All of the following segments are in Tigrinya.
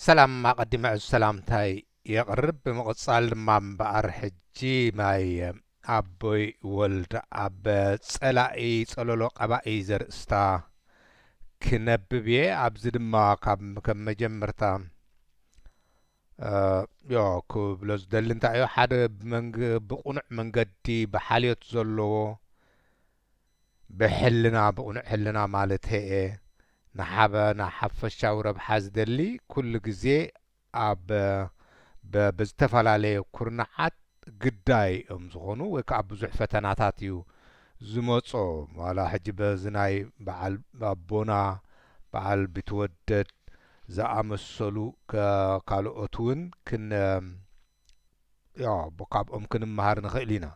ሰላም ኣቐዲመ ዕዙ ሰላምታይ የቕርብ ብምቕጻል ድማ እምበኣር ሕጂ ማይ ኣቦይ ወልድ ኣብ ጸላኢ ጸሎሎ ቀባኢ ዘርእስታ ክነብብ እየ ኣብዚ ድማ ካብ ከም መጀመርታ ዮ ክብሎ ዝደሊ እንታይ እዩ ሓደ ብመንግ ብቕኑዕ መንገዲ ብሓልዮት ዘለዎ ብሕልና ብቕኑዕ ሕልና ማለተይ እየ ንሓበ ንሓፈሻዊ ረብሓ ዝደሊ ኩሉ ግዜ ኣብ ብ ብዝተፈላለየ ኩርናዓት ግዳይ እዮም ዝኾኑ ወይ ክኣ ብዙሕ ፈተናታት እዩ ዝመጾ ዋላ ሕጂ በዚ ናይ ብዓል ኣቦና ብዓል ቢትወደድ ዝኣመሰሉ ካልኦት ውን ክን ያው ካብኦም ክንመሃር ንኽእል ኢና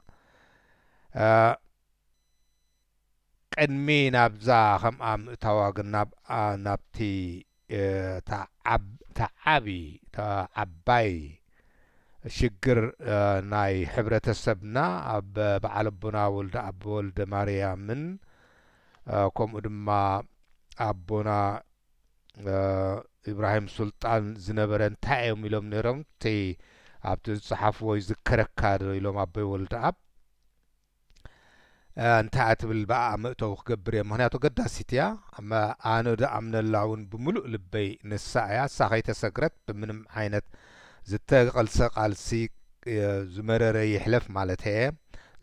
ቅድሚ ናብዛ ከምኣ ምእታዋ ግን ናብቲ ተዓቢ ተዓባይ ሽግር ናይ ሕብረተሰብና ኣብ በዓል ኣቦና ወልደ ኣቦ ወልደ ማርያምን ከምኡ ድማ ኣቦና ኢብራሂም ሱልጣን ዝነበረ እንታይ እዮም ኢሎም ነይሮም እቲ ኣብቲ ዝፀሓፍዎ ይዝከረካ ዶ ኢሎም ኣቦይ ወልደኣብ እንታይ እያ ትብል ብኣ መእተዊ ክገብር እየ ምክንያቱ ገዳሲት እያ ኣነ ዝኣምነላ እውን ብምሉእ ልበይ ንሳ እያ እሳ ከይተሰግረት ብምንም ዓይነት ዝተቐልሰ ቃልሲ ዝመረረ ይሕለፍ ማለት እየ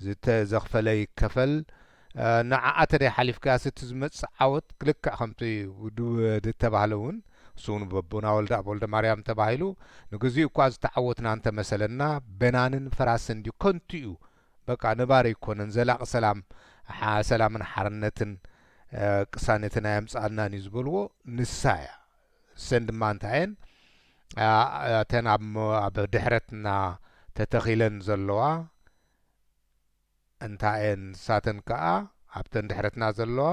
ዝተዘኽፈለ ይከፈል ንዓኣ ተደይ ሓሊፍካያስ እቲ ዝመጽእ ዓወት ልክዕ ከምቲ ድተባህለ ውን ንሱውን በቦና ወልደኣብ ወልደማርያም ተባሂሉ ንግዚኡ እኳ ዝተዓወትና እንተመሰለና በናንን ፈራስን ድዩ ከንቱ እዩ በቃ ነባሪ ኣይኮነን ዘላቂ ሰላም ሰላምን ሓርነትን ቅሳነትን ኣየምጽኣልናን እዩ ዝበልዎ ንሳ እያ እሰን ድማ እንታይ እየን እተን ኣብ ድሕረትና ተተኺለን ዘለዋ እንታየን ንሳተን ከኣ ኣብተን ድሕረትና ዘለዋ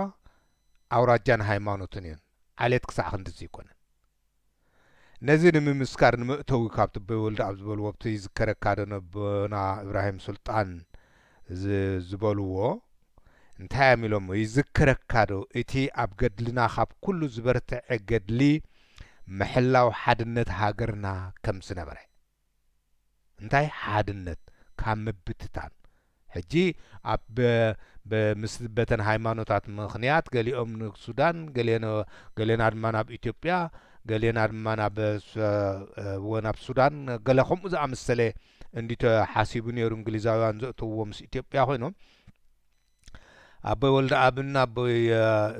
ኣውራጃን ሃይማኖትን እየን ዓሌት ክሳዕ ክንድዚ ኣይኮነን ነዚ ንምምስካር ንመእተዊ ካብ ጥበይ ወልደኣብ ዝበልዎ ኣብቲ ይዝከረካ ዶ ነቦና እብራሂም ሱልጣን ዝበልዎ እንታይ እዮም ኢሎሞ ይዝከረካ ዶ እቲ ኣብ ገድልና ካብ ኩሉ ዝበርተዐ ገድሊ ምሕላው ሓድነት ሃገርና ከም ዝነበረ እንታይ ሓድነት ካብ ምብትታን ሕጂ ኣብ ብ ምስ በተን ሃይማኖታት ምኽንያት ገሊኦም ንሱዳን ገሌኖ ገሌና ድማ ናብ ኢትዮጵያ ገሌና ድማ ናብ ስ ወ ናብ ሱዳን ገለ ከምኡ ዝኣመሰለ እንድዩ ተሓሲቡ ኔሩ እንግሊዛውያን ዘእተውዎ ምስ ኢትዮጵያ ኮይኖም ኣቦይ ወልደኣብን ኣቦይ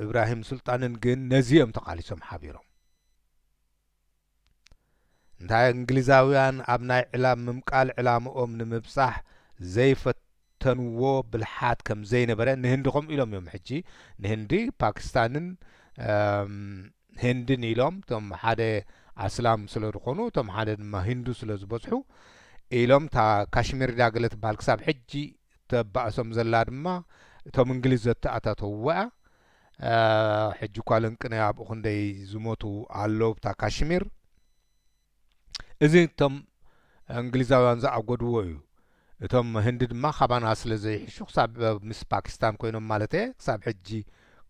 እብራሂም ሱልጣንን ግን ነዚ እዮም ተቓሊሶም ሓቢሮም እንታይ እንግሊዛውያን ኣብ ናይ ዕላም ምምቃል ዕላምኦም ንምብጻሕ ዘይፈተንዎ ብልሓት ከም ዘይነበረ ንህንዲ ከምኡ ኢሎም እዮም ሕጂ ንህንዲ ፓኪስታንን ህንድን ኢሎም እቶም ሓደ ኣስላም ስለ ዝኾኑ እቶም ሓደ ድማ ሂንዱ ስለ ዝበዝሑ ኢሎም እታ ካሽሚር ዳገለ ትበሃል ክሳብ ሕጂ እተባእሶም ዘላ ድማ እቶም እንግሊዝ ዘተኣታተውዎ'ያ። ሕጂ እኳ ለንቅነ ኣብኡ ክንደይ ዝሞቱ ኣለዉ ኣብታ ካሽሚር። እዚ እቶም እንግሊዛውያን ዝኣጎድዎ እዩ። እቶም ህንዲ ድማ ካባና ስለ ዘይሕሹ ክሳብ ምስ ፓኪስታን ኮይኖም ማለተየ ክሳብ ሕጂ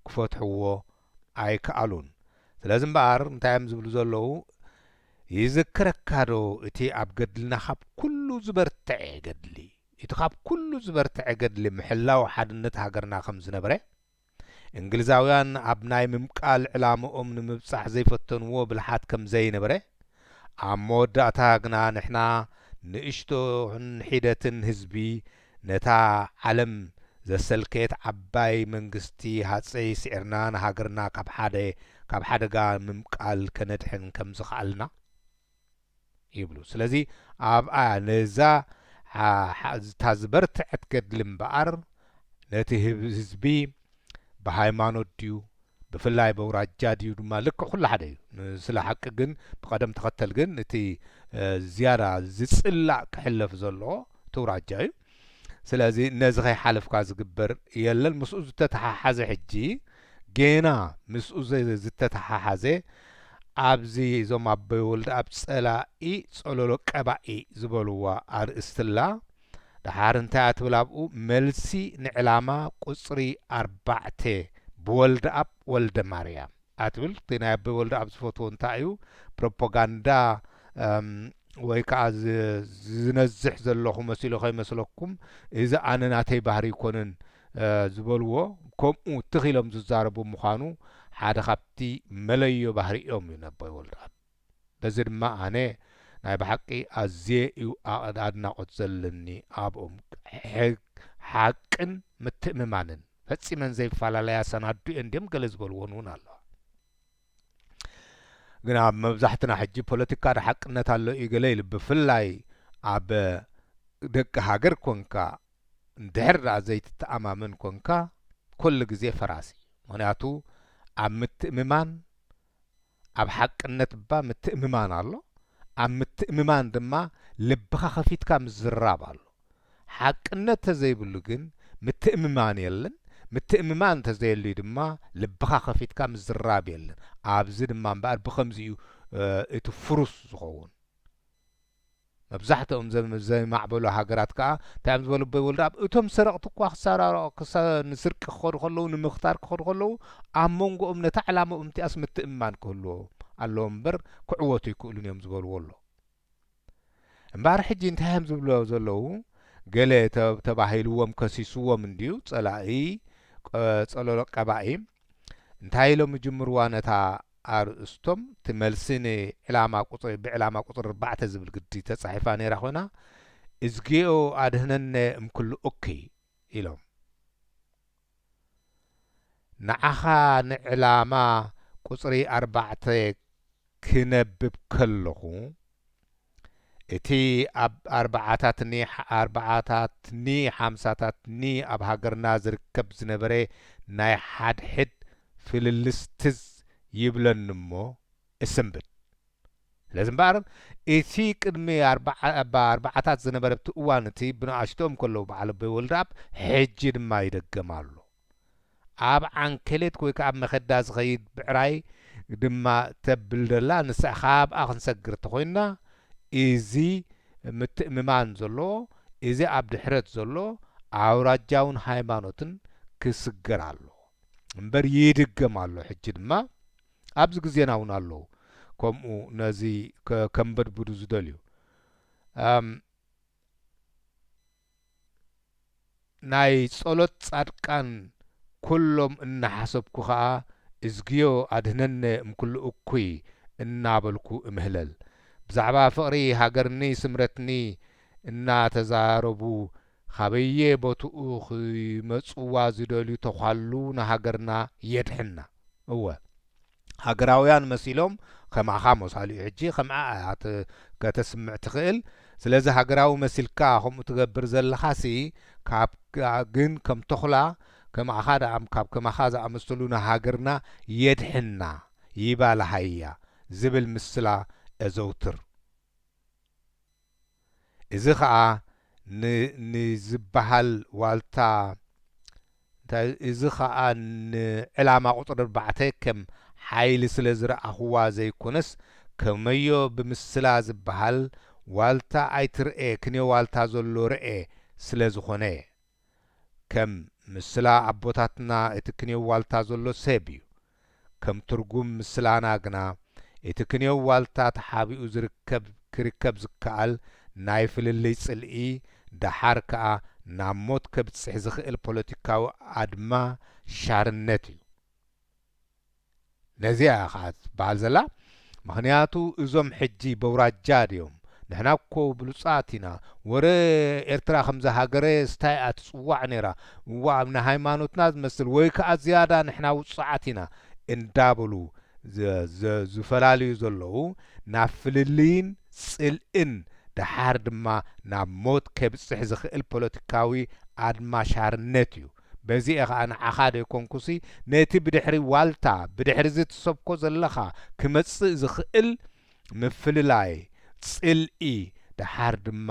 ክፈትሕዎ ኣይከኣሉን። ስለዚ እምበኣር እንታይ እዮም ዝብሉ ዘለዉ ይዝክረካዶ እቲ ኣብ ገድልና ካብ ኩሉ ዝበርተዐ ገድሊ? ኢቲ ካብ ኩሉ ዝበርተዐ ገድሊ ምሕላው ሓድነት ሃገርና ከም ዝነበረ፣ እንግሊዛውያን ኣብ ናይ ምምቃል ዕላምኦም ንምብጻሕ ዘይፈተንዎ ብልሓት ከም ዘይነበረ፣ ኣብ መወዳእታ ግና ንሕና ንእሽቶ ሒደትን ህዝቢ ነታ ዓለም ዘሰልከየት ዓባይ መንግስቲ ሃጸይ ስዒርና ንሃገርና ካብ ሓደ ካብ ሓደጋ ምምቃል ከነድሕን ከም ዝኸኣልና፣ ይብሉ ስለዚ ኣብኣ ነዛ እታ ዝበርተዐት ገድሊ እምበኣር ነቲ ህዝቢ ብሃይማኖት ድዩ ብፍላይ በውራጃ ድዩ ድማ ልክዕ ኩሉ ሓደ እዩ ንስለ ሓቂ ግን ብቀደም ተኸተል ግን እቲ ዝያዳ ዝጽላእ ክሕለፍ ዘለዎ እቲ ውራጃ እዩ ስለዚ ነዚ ከይሓለፍካ ዝግበር የለን ምስኡ ዝተተሓሓዘ ሕጂ ጌና ምስኡ ዝተተሓሓዘ ኣብዚ እዞም ኣቦይ ወልደኣብ ጸላኢ ጸሎሎ ቀባኢ ዝበልዋ ኣርእስቲ ኣላ ደሓር እንታይ እያ ትብል ኣብኡ መልሲ ንዕላማ ቁጽሪ ኣርባዕተ ብወልደኣብ ወልደማርያም ኣትብል እቲ ናይ ኣበበ ወልደኣብ ዝፈትዎ እንታይ እዩ ፕሮፖጋንዳ ወይ ከዓ ዝነዝሕ ዘለኹ መሲሉ ከይመስለኩም እዚ ኣነ ናተይ ባህሪ ኣይኮነን ዝበልዎ ከምኡ ትኽ ኢሎም ዝዛረቡ ምዃኑ ሓደ ካብቲ መለዮ ባህሪኦም እዩ ነኣበበ ወልደኣብ። በዚ ድማ ኣነ ናይ ብሓቂ ኣዝየ እዩ ኣድናቆት ዘለኒ ኣብኦም ሓቅን ምትእምማንን ፈጺመን ዘይፋላለያ ሰናዱ እየን ድዮም ገለ ዝበልዎን እውን ኣለዋ ግን ኣብ መብዛሕትና ሕጂ ፖለቲካ ዶ ሓቅነት ኣሎ እዩ ገለ ኢሉ ብፍላይ ኣብ ደቂ ሃገር ኮንካ እንድሕር ደኣ ዘይትተኣማመን ኮንካ ኩሉ ግዜ ፈራሲ ምክንያቱ ኣብ ምትእምማን ኣብ ሓቅነት እባ ምትእምማን ኣሎ፣ ኣብ ምትእምማን ድማ ልብኻ ከፊትካ ምዝራብ ኣሎ። ሓቅነት ተዘይብሉ ግን ምትእምማን የለን፣ ምትእምማን ተዘየልዩ ድማ ልብኻ ከፊትካ ምዝራብ የለን። ኣብዚ ድማ እምበኣር ብኸምዚ እዩ እቲ ፍሩስ ዝኸውን። መብዛሕትኦም ዘም ዘይማዕበሉ ሃገራት ከኣ እንታይ እዮም ዝበሉ ኣቦይ ወልደኣብ እቶም ሰረቕቲ እኳ ክሳራ ክሳ ንስርቂ ክኸዱ ከለዉ ንምኽታር ክኸዱ ከለዉ ኣብ መንጎኦም ነታ ዕላምኦም እቲኣስ ምትእምማን ክህልዎም ኣለዎም እምበር ክዕወቱ ኣይክእሉን እዮም ዝበልዎ ኣሎ እምበኣር ሕጂ እንታይ እዮም ዝብልዎ ዘለዉ ገለ ተ- ተባሂልዎም ከሲስዎም እንድዩ ጸላኢ ቀ- ጸለሎ ቀባኢ እንታይ ኢሎም ይጅምርዋ ነታ ኣርእስቶም እቲ መልሲ ን ዕላማ ቁጽሪ ብ ዕላማ ቁጽሪ ኣርባዕተ ዝብል ግዲ ተጻሒፋ ነይራ ኮይና እዝጌኦ ኣድህነነ እምኩሉ እኩይ ኢሎም ንዓኻ ን ዕላማ ቁጽሪ ኣርባዕተ ክነብብ ከለኹ እቲ ኣብ ኣርባዓታት ን ኣርባዓታት ን ሓምሳታት ን ኣብ ሃገርና ዝርከብ ዝነበረ ናይ ሓድሕድ ፍልልስ ትዝ ይብለኒ'ሞ እስንብድ። ስለዚ እምበኣር እቲ ቅድሚ ኣብ ኣርባዓታት ዝነበረብቲ እዋን እቲ ብንኣሽትኦም ከለዉ በዓል ኣቦይ ወልደኣብ ሕጂ ድማ ይደገም ኣሎ። ኣብ ዓንኬሌት ወይ ከኣ ኣብ መከዳ ዝኸይድ ብዕራይ ድማ ተብል ዘላ ንሳ ካብኣ ክንሰግር ተኾይንና እዚ ምትእምማን ዘለዎ እዚ ኣብ ድሕረት ዘሎ ኣውራጃውን ሃይማኖትን ክስገር ኣለዎ እምበር ይድገም ኣሎ ሕጂ ድማ ኣብዚ ግዜና እውን ኣለዉ ከምኡ ነዚ ከንበድብዱ ዝደልዩ እም ናይ ጸሎት ጻድቃን ኩሎም እናሓሰብኩ ከኣ እዝግዮ ኣድህነነ እምኩሉ እኩይ እናበልኩ እምህለል። ብዛዕባ ፍቕሪ ሃገርኒ ስምረትኒ እናተዛረቡ ኻበየ ቦትኡ ኺመጽዋ ዚደልዩ ተዃሉ ንሃገርና የድሕና። እወ! ሃገራውያን መሲሎም ከማኻ መሳሉ እዩ ሕጂ ከምኣ እያ ከተስምዕ ትኽእል ስለዚ ሃገራዊ መሲልካ ከምኡ ትገብር ዘለኻሲ ካብ ግን ከም ቶኽላ ከማኻ ደኣም ካብ ከማኻ ዝኣመሰሉ ንሃገርና የድሕና ይባልሃያ ዝብል ምስላ እዘውትር። እዚ ኸኣ ን ን ዝበሃል ዋልታ እንታይ እዚ ኸኣ ን ዕላማ ቁጽሪ ኣርባዕተ ከም ሓይሊ ስለ ዝረኣኹዋ ዘይኮነስ ከመዮ ብምስላ ዝበሃል ዋልታ ኣይትርኤ ክንዮ ዋልታ ዘሎ ርኤ ስለ ዝኾነ ከም ምስላ ኣቦታትና እቲ ክንዮ ዋልታ ዘሎ ሰብ እዩ። ከም ትርጉም ምስላና ግና እቲ ክንዮ ዋልታ ተሓቢኡ ዝርከብ ክርከብ ዝከኣል ናይ ፍልልይ ጽልኢ ደሓር ከኣ ናብ ሞት ከብጽሕ ዝኽእል ፖለቲካዊ ኣድማ ሻርነት እዩ። ነዚኣ እያ ከኣ ትበሃል ዘላ ምኽንያቱ እዞም ሕጂ በውራጃ ድዮም ንሕና እኮ ብሉጻት ኢና ወረ ኤርትራ ከምዛ ሃገረስ ታይ እያ ትጽዋዕ ኔራ እዋእ ንሃይማኖትና ዝመስል ወይ ከኣ ዝያዳ ንሕና ውጹዓት ኢና እንዳበሉ ዝፈላልዩ ዘለዉ ናብ ፍልልይን ጽልእን ደሓር ድማ ናብ ሞት ከብጽሕ ዝኽእል ፖለቲካዊ ኣድማሻርነት እዩ። በዚ'የ ኸኣ ንዓኻ ደይኮንኩሲ ነቲ ብድሕሪ ዋልታ ብድሕሪ'ዚ ትሰብኮ ዘለኻ ክመጽእ ዝኽእል ምፍልላይ፣ ጽልኢ፣ ደሓር ድማ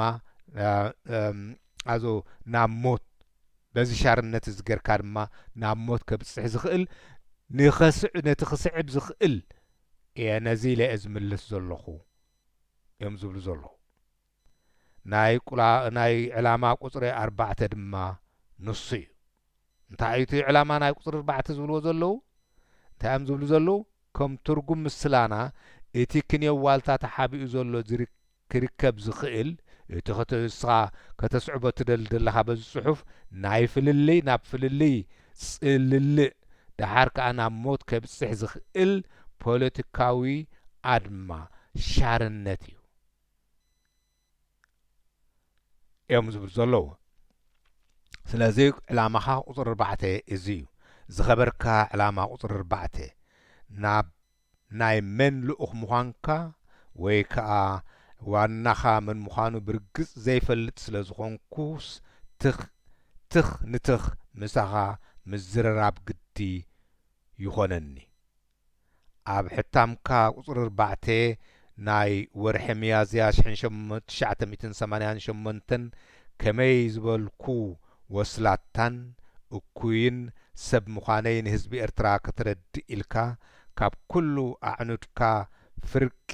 ኣዞ ናብ ሞት በዚ ሻርነት'ዚ ጌርካ ድማ ናብ ሞት ከብጽሕ ዝኽእል ንኸስዕ ነቲ ክስዕብ ዝኽእል እየ ነዚ ኢለ'የ ዝምልስ ዘለኹ እዮም ዝብሉ ዘለዉ። ናይ ቁላ ናይ ዕላማ ቁጽሪ ኣርባዕተ ድማ ንሱ እዩ። እንታይ እዩ እቲ ዕላማ ናይ ቁጽሪ ኣርባዕተ ዝብልዎ ዘለዉ? እንታይ እዮም ዝብሉ ዘለዉ? ከም ትርጉም ምስላና እቲ ክንየው ዋልታ ተሓቢኡ ዘሎ ዝር ክርከብ ዝኽእል እቲ ክተ እስኻ ከተስዕቦ እትደሊ ዘለኻ በዚ ጽሑፍ ናይ ፍልልይ ናብ ፍልልይ ጽልልእ ደሓር ከኣ ናብ ሞት ከብጽሕ ዝኽእል ፖለቲካዊ ኣድማ ሻርነት እዩ። እዮም ዝብሉ ዘለዉ ስለዚ ዕላማኻ ቁፅሪ ኣርባዕተ እዚ እዩ ዝኸበርካ ዕላማ ቁፅሪ ኣርባዕተ ናብ ናይ መን ልኡኽ ምዃንካ ወይ ከዓ ዋናኻ መን ምዃኑ ብርግፅ ዘይፈልጥ ስለዝኾንኩስ ትኽ ትኽ ንትኽ ምሳኻ ምዝርራብ ግዲ ይኾነኒ። ኣብ ሕታምካ ቁጽሪ ኣርባዕተ ናይ ወርሒ ሚያዝያ ትሽዓተ ሚእትን ሰማንያን ሸሞንተን ከመይ ዝበልኩ ወስላታን እኩይን ሰብ ምዃነይ ንህዝቢ ኤርትራ ከተረድእ ኢልካ ካብ ኩሉ ኣዕኑድካ ፍርቂ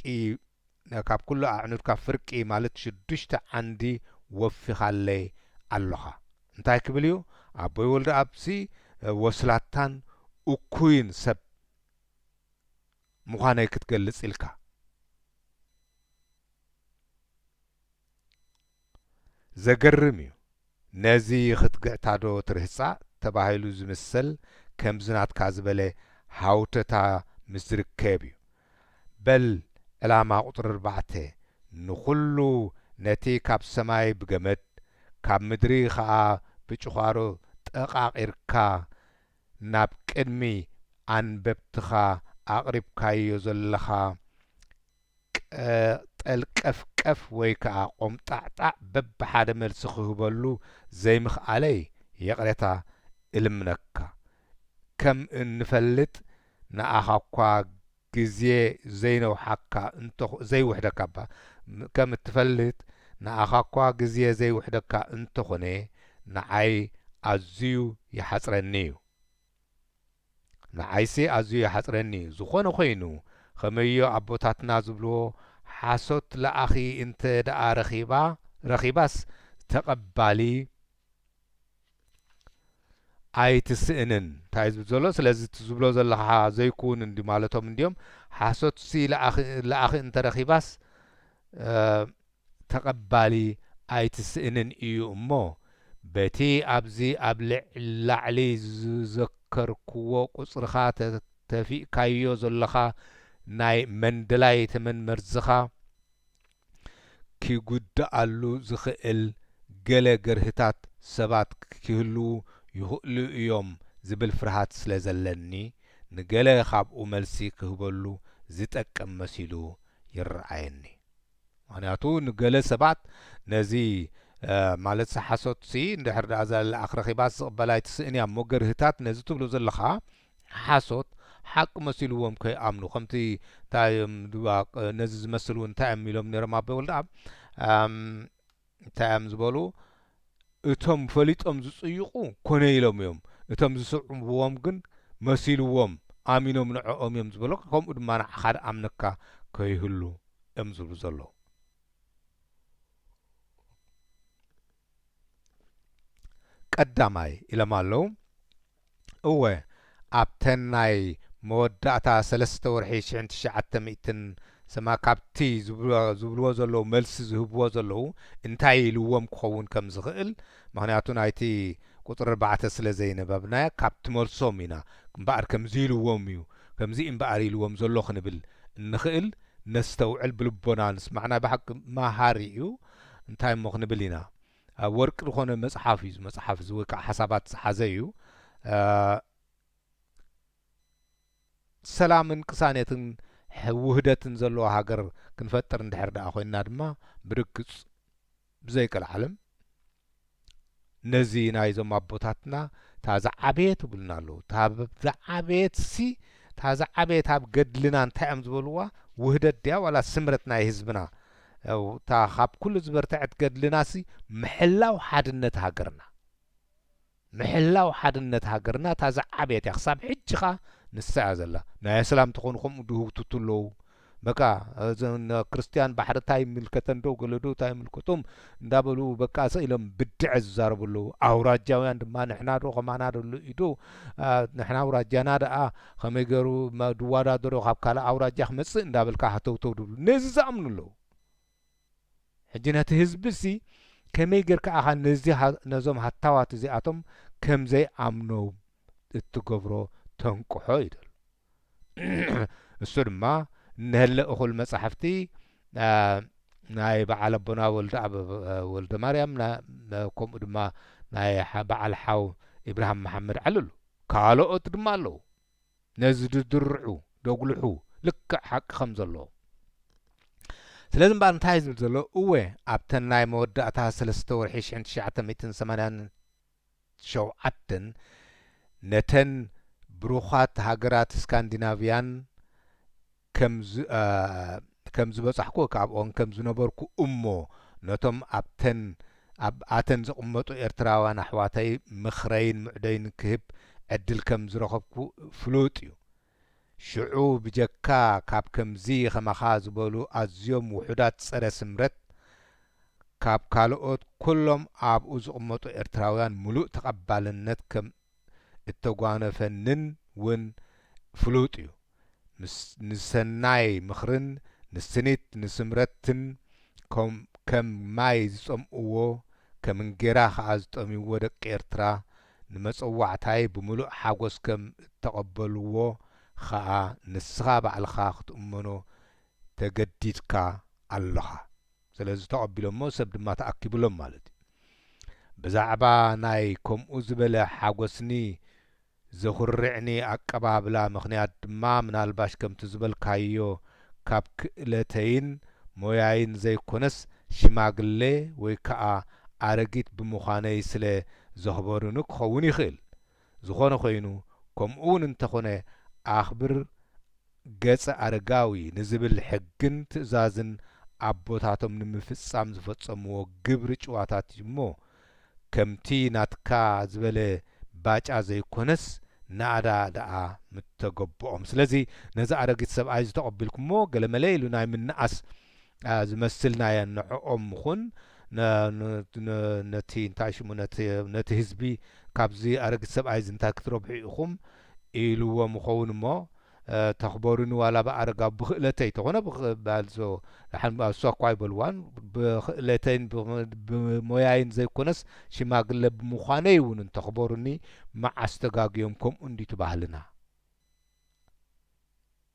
ካብ ኩሉ ኣዕኑድካ ፍርቂ ማለት ሽዱሽተ ዓንዲ ወፊኻለይ ኣሎኻ እንታይ ክብል እዩ ኣቦይ ወልደኣብሲ ወስላታን እኩይን ሰብ ምዃነይ ክትገልጽ ኢልካ ዘገርም እዩ ነዚ ክትግዕታዶ ትርህጻ ተባሂሉ ዝምሰል ከምዚ ናትካ ዝበለ ሃውተታ ምስ ዝርከብ እዩ በል ዕላማ ቁጽሪ ኣርባዕተ ንኹሉ ነቲ ካብ ሰማይ ብገመድ ካብ ምድሪ ከኣ ብጭዃሮ ጠቃቂርካ ናብ ቅድሚ ኣንበብትኻ ኣቅሪብካዮ ዘለኻ ቀጠልቀፍቀፍ ወይ ከኣ ቆምጣዕጣዕ በብሓደ መልሲ ክህበሉ ዘይምኽኣለይ የቕሬታ እልምነካ። ከም እንፈልጥ ንኣኻኳ ግዜ ዘይነውሓካ እንተ ዘይውሕደካ እባ ከም እትፈልጥ ንኣኻኳ ግዜ ዘይውሕደካ እንተኾነ ንዓይ ኣዝዩ ይሓጽረኒ እዩ። ንዓይሲ ኣዝዩ ይሓጽረኒ ዝኾነ ኮይኑ ኸመዮ ኣቦታትና ዝብልዎ ሓሶት ለኣኺ እንተ ደኣ ረኺባ ረኺባስ ተቀባሊ ኣይትስእንን። ታይ ዝብል ዘሎ ስለዚ እቲ ዝብሎ ዘለኻ ዘይኩውን እንዲ ማለቶም እንድዮም ሓሶትሲ ለኣኺ እንተ ረኺባስ ተቐባሊ ኣይትስእንን እዩ እሞ፣ በቲ ኣብዚ ኣብ ላዕሊ ዝዘከርኩዎ ቁጽርኻ ተፊእካዮ ዘሎኻ ናይ መንደላይ ተመን መርዝኻ ኪጉድኣሉ ዝኽእል ገለ ገርህታት ሰባት ኪህልዉ ይኽእሉ እዮም ዝብል ፍርሃት ስለ ዘለኒ፣ ንገለ ኻብኡ መልሲ ክህበሉ ዚጠቅም መሲሉ ይረኣየኒ። ምክንያቱ ንገለ ሰባት ነዚ ማለትሲ ሓሶትሲ እንድሕር ደኣ እዛ ልኣኽ ረኺባስ ዝቕበላ ኣይትስእን እያ እሞ ገርህታት ነዚ ትብሎ ዘለኻ ሓሶት ሓቂ መሲልዎም ከይኣምኑ ከምቲ እንታይ እዮም ድባቕ ነዚ ዝመስል እውን እንታይ እዮም ኢሎም ነይሮም ኣቦይ ወልደኣብ እንታይ እዮም ዝበሉ እቶም ፈሊጦም ዝጽይቁ ኮነ ኢሎም እዮም እቶም ዝስዕብዎም ግን መሲልዎም ኣሚኖም ንዕኦም እዮም ዝበሉካ ከምኡ ድማ ንዓካ ድኣምነካ ከይህሉ እዮም ዝብሉ ዘለዉ ቀዳማይ ኢሎም ኣለዉ እወ ኣብተን ናይ መወዳእታ ሰለስተ ወርሒ ሽሕን ትሽዓተ ሚእትን ሰማ ካብቲ ዝብልዎ ዘለዉ መልሲ ዝህብዎ ዘለዉ እንታይ ኢልዎም ክኸውን ከም ዝኽእል ምኽንያቱ ናይቲ ቁጽሪ ኣርባዕተ ስለ ዘይነበብናያ ካብቲ መልሶም ኢና እምበኣር ከምዚ ኢልዎም እዩ ከምዚ እምበኣር ኢልዎም ዘሎ ክንብል እንኽእል ነስተውዕል ብልቦና ንስማዕ ናይ ብሓቂ መሃሪ እዩ እንታይ እሞ ክንብል ኢና ኣብ ወርቂ ዝኾነ መጽሓፍ እዩ መጽሓፍ እዚ ወይ ከዓ ሓሳባት ዝሓዘ እዩ ሰላምን ቅሳኔትን ውህደትን ዘለዎ ሃገር ክንፈጥር እንድሕር ደኣ ኮይንና ድማ ብርግጽ ብዘይቀልዓለም ነዚ ናይዞም ኣቦታትና እታ ዝዓበየት ይብሉና ኣለዉ እታ ዝዓበየት ሲ እታ ዝዓበየት ኣብ ገድልና እንታይ እዮም ዝበልዋ ውህደት ድያ ዋላ ስምረት ናይ ህዝብና ያው እታ ካብ ኩሉ ዝበርተዐት ገድልናሲ ምሕላው ሓድነት ሃገርና ምሕላው ሓድነት ሃገርና እታ ዝዓበየት እያ ክሳብ ሕጂ ከኣ ንሳ እያ ዘላ ናይ ኣስላም ተኾኑ ከምኡ ድህውትቱ ኣለዉ በቃ እዘን ክርስትያን ባሕሪ እንታይ ይምልከተን ዶ ገለ ዶ እንታይ ይምልከቶም እንዳበሉ በቃ ሰኢሎም ብድዐ ዝዛረቡ ኣለዉ ኣውራጃውያን ድማ ንሕና ዶ ከማና ዶ ንሕና ኣውራጃና ደኣ ኸመይ ገሩ ድዋዳደሮ ካብ ካልእ ኣውራጃ ክመጽእ እንዳበልካ ሃተውተው ድብሉ ነዚ ዝኣምኑ ኣለዉ ሕጂ ነቲ ህዝቢሲ ከመይ ገርካ ኣኻ ነዚ ነዞም ሃታዋት እዚኣቶም ከምዘይ ኣምኖም እትገብሮ ተንቅሖ ይደሉ እሱ ድማ እነህለ እኹል መጻሕፍቲ ናይ በዓል ኣቦና ወልደ ማርያም ከምኡ ድማ ናይ በዓል ሓው ኢብራሃም መሓመድ ዓልሉ ካሎኦት ድማ ኣለዉ ነዚ ድድርዑ ደጉልሑ ልክዕ ሓቂ ከም ዘሎ ስለዚ እምበኣር እንታይ እዩ ዝብል ዘሎ እወ ኣብተን ናይ መወዳእታ ሰለስተ ወርሒ ሽሕን ትሽዓተ ሚእትን ሰማንያን ሸውዓተን ነተን ብሩኻት ሃገራት ስካንዲናቭያን ከም ዝበጻሕኩ እካብኦን ከም ዝነበርኩ እሞ ነቶም ኣብተን ኣብ ኣተን ዝቕመጡ ኤርትራውያን ኣሕዋተይ ምኽረይን ምዕዶይን ክህብ ዕድል ከም ዝረኸብኩ ፍሉጥ እዩ። ሽዑ ብጀካ ካብ ከምዚ ከማኻ ዝበሉ ኣዝዮም ውሑዳት ጸረ ስምረት ካብ ካልኦት ኩሎም ኣብኡ ዝቕመጡ ኤርትራውያን ምሉእ ተቐባልነት ከም እተጓነፈንን ውን ፍሉጥ እዩ። ንሰናይ ምኽርን ንስኒት ንስምረትን ከም ማይ ዝጸምእዎ ከም እንጌራ ከኣ ዝጠምይዎ ደቂ ኤርትራ ንመጸዋዕታይ ብምሉእ ሓጎስ ከም እተቐበልዎ ከኣ ንስኻ ባዕልኻ ክትእመኖ ተገዲድካ ኣሎኻ። ስለዚ ተቐቢሎሞ ሰብ ድማ ተኣኪቡሎም ማለት እዩ። ብዛዕባ ናይ ከምኡ ዝበለ ሓጎስኒ ዘኹርዕኒ ኣቀባብላ ምኽንያት ድማ ምናልባሽ ከምቲ ዝበልካዮ ካብ ክእለተይን ሞያይን ዘይኮነስ ሽማግለ ወይ ከኣ ኣረጊት ብምዃነይ ስለ ዘኽበሩኒ ክኸውን ይኽእል። ዝኾነ ኮይኑ ከምኡውን እንተኾነ ኣኽብር ገጸ ኣረጋዊ ንዝብል ሕግን ትእዛዝን ኣቦታቶም ንምፍጻም ዝፈጸምዎ ግብሪ ጭዋታት እዩ እሞ ከምቲ ናትካ ዝበለ ባጫ ዘይኮነስ ናእዳ ደኣ ምተገቦኦም ስለዚ ነዚ ኣረጊት ሰብኣይ እዚ ተቀቢልኩሞ ገለመለ ኢሉ ናይ ምናኣስ ዝመስልናየን ንዕኦም ምኹን ነቲ እንታይ ሽሙ ነቲ ህዝቢ ካብዚ ኣረጊት ሰብኣይ እዚ እንታይ ክትረብሑ ኢኹም ኢልዎም ይኸውን እሞ ተኽበሩኒ ዋላ ብኣረጋዊ ብኽእለተይ ተኾነ ባልሶ ደሓን እሷ እኳ ኣይበልዋን ብኽእለተይን ብሞያይን ዘይኮነስ ሽማግለ ብምዃነይ እውን እንተኽበሩኒ መዓስ ተጋግዮም ከምኡ እንድዩ እቲ ባህልና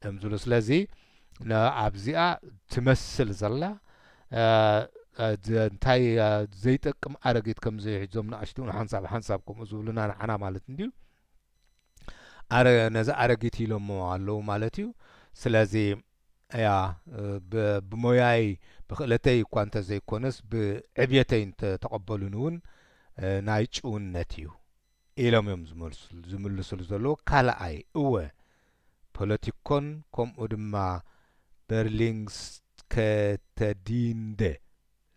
እምዝሉ ስለዚ ንኣብዚኣ ትመስል ዘላ እንታይ ዘይጠቅም ኣረጊት ከምዚ ሒዞም ንኣሽቱ ንሓንሳብ ሓንሳብ ከምኡ ዝብሉና ንዓና ማለት እንድዩ ነዚ ኣረጊት ኢሎሞ ኣለዉ ማለት እዩ ስለዚ እያ ብሞያይ ብክእለተይ እኳ እንተዘይኮነስ ብዕብየተይ እንተተቐበሉኒ እውን ናይ ጭውነት እዩ ኢሎም እዮም ዝመልሱሉ ዝምልሱሉ ዘለዉ ካልኣይ እወ ፖለቲኮን ከምኡ ድማ በርሊንግስከተዲንደ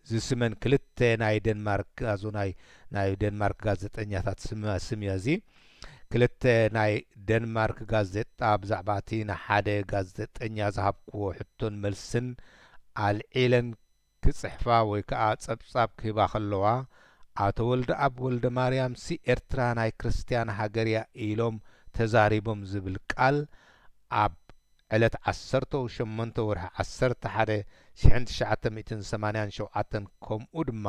ዝስመን ክልተ ናይ ደንማርክ ኣዞናይ ናይ ደንማርክ ጋዜጠኛታት ስመ ስም እያ እዚ ክልተ ናይ ደንማርክ ጋዜጣ ብዛዕባ እቲ ንሓደ ጋዜጠኛ ዝሃብክዎ ሕቶን መልስን ኣልዒለን ክጽሕፋ ወይ ከኣ ጸብጻብ ክህባ ከለዋ ኣቶ ወልደኣብ ወልደማርያምሲ ኤርትራ ናይ ክርስትያን ሃገር'ያ ኢሎም ተዛሪቦም ዝብል ቃል ኣብ ዕለት ዓሰርተው ሸሞንተ ወርሒ ዓሰርተ ሓደ ሽሕን ትሽዓተ ሚእትን ሰማንያን ሸውዓተን ከምኡ ድማ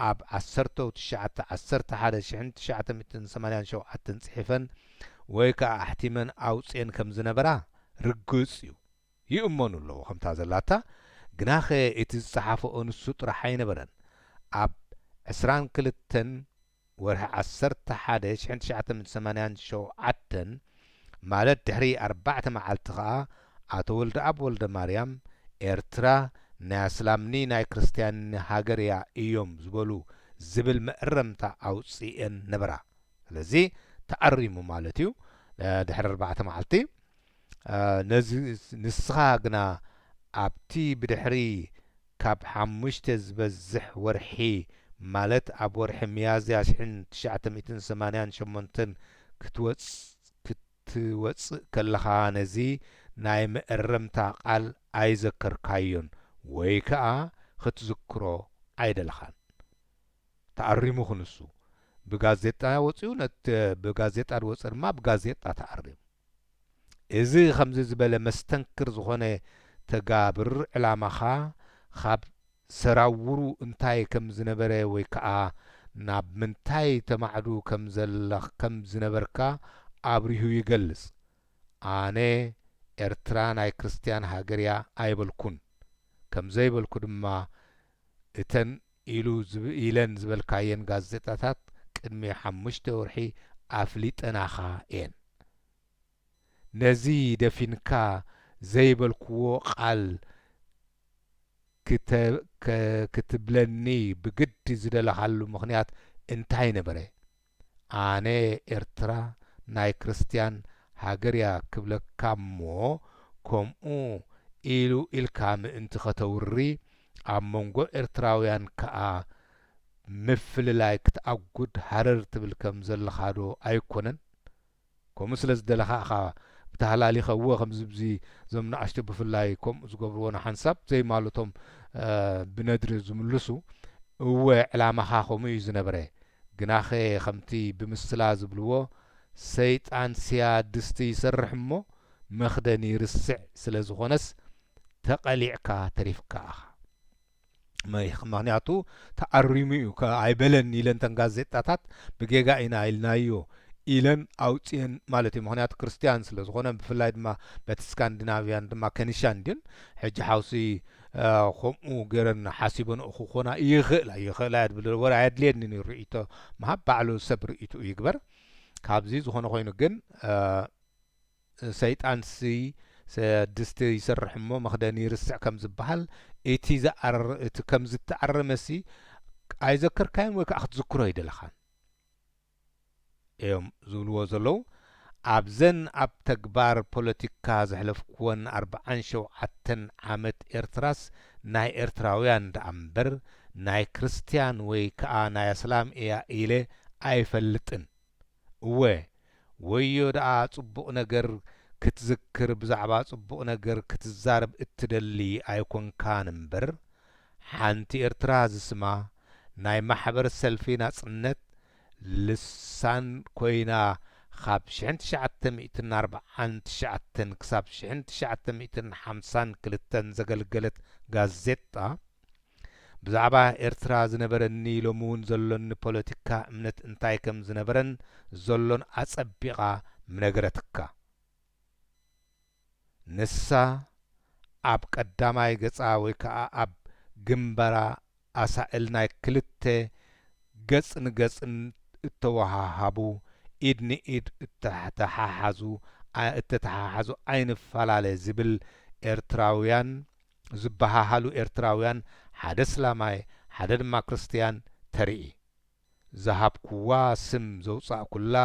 ኣብ ዓሰርተው ትሽዓተ ዓሰርተ ሓደ ሽሕን ትሽዓተ ሚእትን ሰማንያን ሸውዓተን ጽሒፈን ወይ ከኣ ኣሕቲመን ኣውጺኤን ከም ዝነበራ ርግጽ'ዩ። ይእመኑ ኣለዉ ከምታ ዘላታ ግናኸ እቲ ዝጸሓፈኦ ንሱ ጥራሕ ኣይነበረን ኣብ ዕስራን ክልተን ወርሒ ዓሰርተ ሓደ ሽሕን ትሽዓተን ሰማንያን ሸውዓተን ማለት ድሕሪ ኣርባዕተ መዓልቲ ከኣ ኣቶ ወልደኣብ ወልደማርያም ኤርትራ ናይ ኣስላምኒ ናይ ክርስትያንኒ ሃገር እያ እዮም ዝበሉ ዝብል መእረምታ ኣውጺኤን ነበራ ስለዚ ተኣሪሙ ማለት እዩ ድሕሪ ኣርባዕተ መዓልቲ ነዚ ንስኻ ግና ኣብቲ ብድሕሪ ካብ ሓሙሽተ ዝበዝሕ ወርሒ ማለት ኣብ ወርሒ ሚያዝያ ሽሕን ትሽዓተ ሚእትን ሰማንያን ሸሞንተን ክትወጽእ ከለኻ ነዚ ናይ መእረምታ ቃል ኣይዘከርካዮን ወይ ከኣ ክትዝክሮ ኣይደለኻን። ተኣሪሙ ክንሱ ብጋዜጣ ወጺኡ ነት ብጋዜጣ ድወጸ ድማ ብጋዜጣ ተኣሪሙ። እዚ ከምዚ ዝበለ መስተንክር ዝኾነ ተጋብር ዕላማኻ ኻብ ሰራውሩ እንታይ ከም ዝነበረ ወይ ከኣ ናብ ምንታይ ተማዕዱ ከም ዘለኽ ከም ዝነበርካ ኣብሪሁ ይገልጽ ኣነ ኤርትራ ናይ ክርስትያን ሃገርያ ኣይበልኩን ከም ዘይበልኩ ድማ እተን ኢሉ ኢለን ዝበልካየን ጋዜጣታት ቅድሚ ሓሙሽተ ወርሒ ኣፍሊጠናኻ እየን። ነዚ ደፊንካ ዘይበልኩዎ ቃል ክትብለኒ ብግዲ ዝደለኻሉ ምኽንያት እንታይ ነበረ? ኣነ ኤርትራ ናይ ክርስትያን ሃገርያ ክብለካ'ሞ ከምኡ ኢሉ ኢልካ ምእንቲ ከተውሪ ኣብ መንጎ ኤርትራውያን ከኣ ምፍልላይ ክትኣጉድ ሃረር ትብል ከም ዘለኻዶ ኣይኮነን? ከምኡ ስለ ዝደለኻ እኻ ብታህላሊኸ እወ ከምዚ ብዚ ዞም ንኣሽቱ ብፍላይ ከምኡ ዝገብርዎ ንሓንሳብ ዘይማልቶም ብነድሪ ዝምልሱ እወ ዕላማኻ ከምኡ እዩ ዝነበረ ግናኸ ከምቲ ብምስላ ዝብልዎ ሰይጣን ስያ ድስቲ ይሰርሕ እሞ መኽደኒ ይርስዕ ስለ ዝኾነስ ተቐሊዕካ ተሪፍካ እኻ። ምክንያቱ ተኣሪሙ እዩ ኣይበለን ኢለን ተን ጋዜጣታት ብጌጋ ኢና ኢልናዮ ኢለን ኣውፅኤን ማለት እዩ ምክንያቱ ክርስትያን ስለ ዝኾነ ብፍላይ ድማ በቲ ስካንዲናቪያን ድማ ከኒሻን ድን ሕጂ ሓውሲ ከምኡ ገረን ሓሲበንኡ ክኾና ይኽእላ ይኽእላ እያ ድብል ወረ ኣየድልየኒ ኒ ርእቶ ምሃብ ባዕሉ ሰብ ርእይትኡ ይግበር ካብዚ ዝኾነ ኮይኑ ግን ሰይጣንሲ ድስቲ ይሰርሕ እሞ መኽደኒ ይርስዕ ከም ዝበሃል፣ እቲ ዝኣረረ እቲ ከም ዝተኣረመሲ ኣይዘከርካዮን ወይ ከኣ ክትዝክሮ ኣይደለኻን እዮም ዝብልዎ ዘለዉ። ኣብዘን ኣብ ተግባር ፖለቲካ ዘሕለፍኩወን ኣርብዓን ሸውዓተን ዓመት ኤርትራስ ናይ ኤርትራውያን ደኣ እምበር ናይ ክርስትያን ወይ ከኣ ናይ ኣስላም እያ ኢለ ኣይፈልጥን። እወ ወዮ ደኣ ጽቡቅ ነገር ክትዝክር ብዛዕባ ጽቡቅ ነገር ክትዛረብ እትደሊ ኣይኮንካን እምበር ሓንቲ ኤርትራ ዝስማ ናይ ማሕበር ሰልፊ ናጽነት ልሳን ኮይና ኻብ ሽሕን ትሽዓተ ሚእትን ኣርብዓን ትሽዓተን ክሳብ ሽሕን ትሽዓተ ሚእትን ሓምሳን ክልተን ዘገልገለት ጋዜጣ ብዛዕባ ኤርትራ ዝነበረኒ ሎሚውን ዘሎኒ ፖለቲካ እምነት እንታይ ከም ዝነበረን ዘሎን ኣጸቢቓ ምነገረትካ። ንሳ ኣብ ቀዳማይ ገጻ ወይ ከኣ ኣብ ግንባራ ኣሳእል ናይ ክልተ ገጽ ንገጽ እተወሃሃቡ፣ ኢድ ንኢድ እተተሓሓዙ እተተሓሓዙ ኣይንፈላለ ዝብል ኤርትራውያን፣ ዝበሃሃሉ ኤርትራውያን ሓደ ስላማይ ሓደ ድማ ክርስትያን ተርኢ። ዝሃብኩዋ ስም ዘውጻእኩላ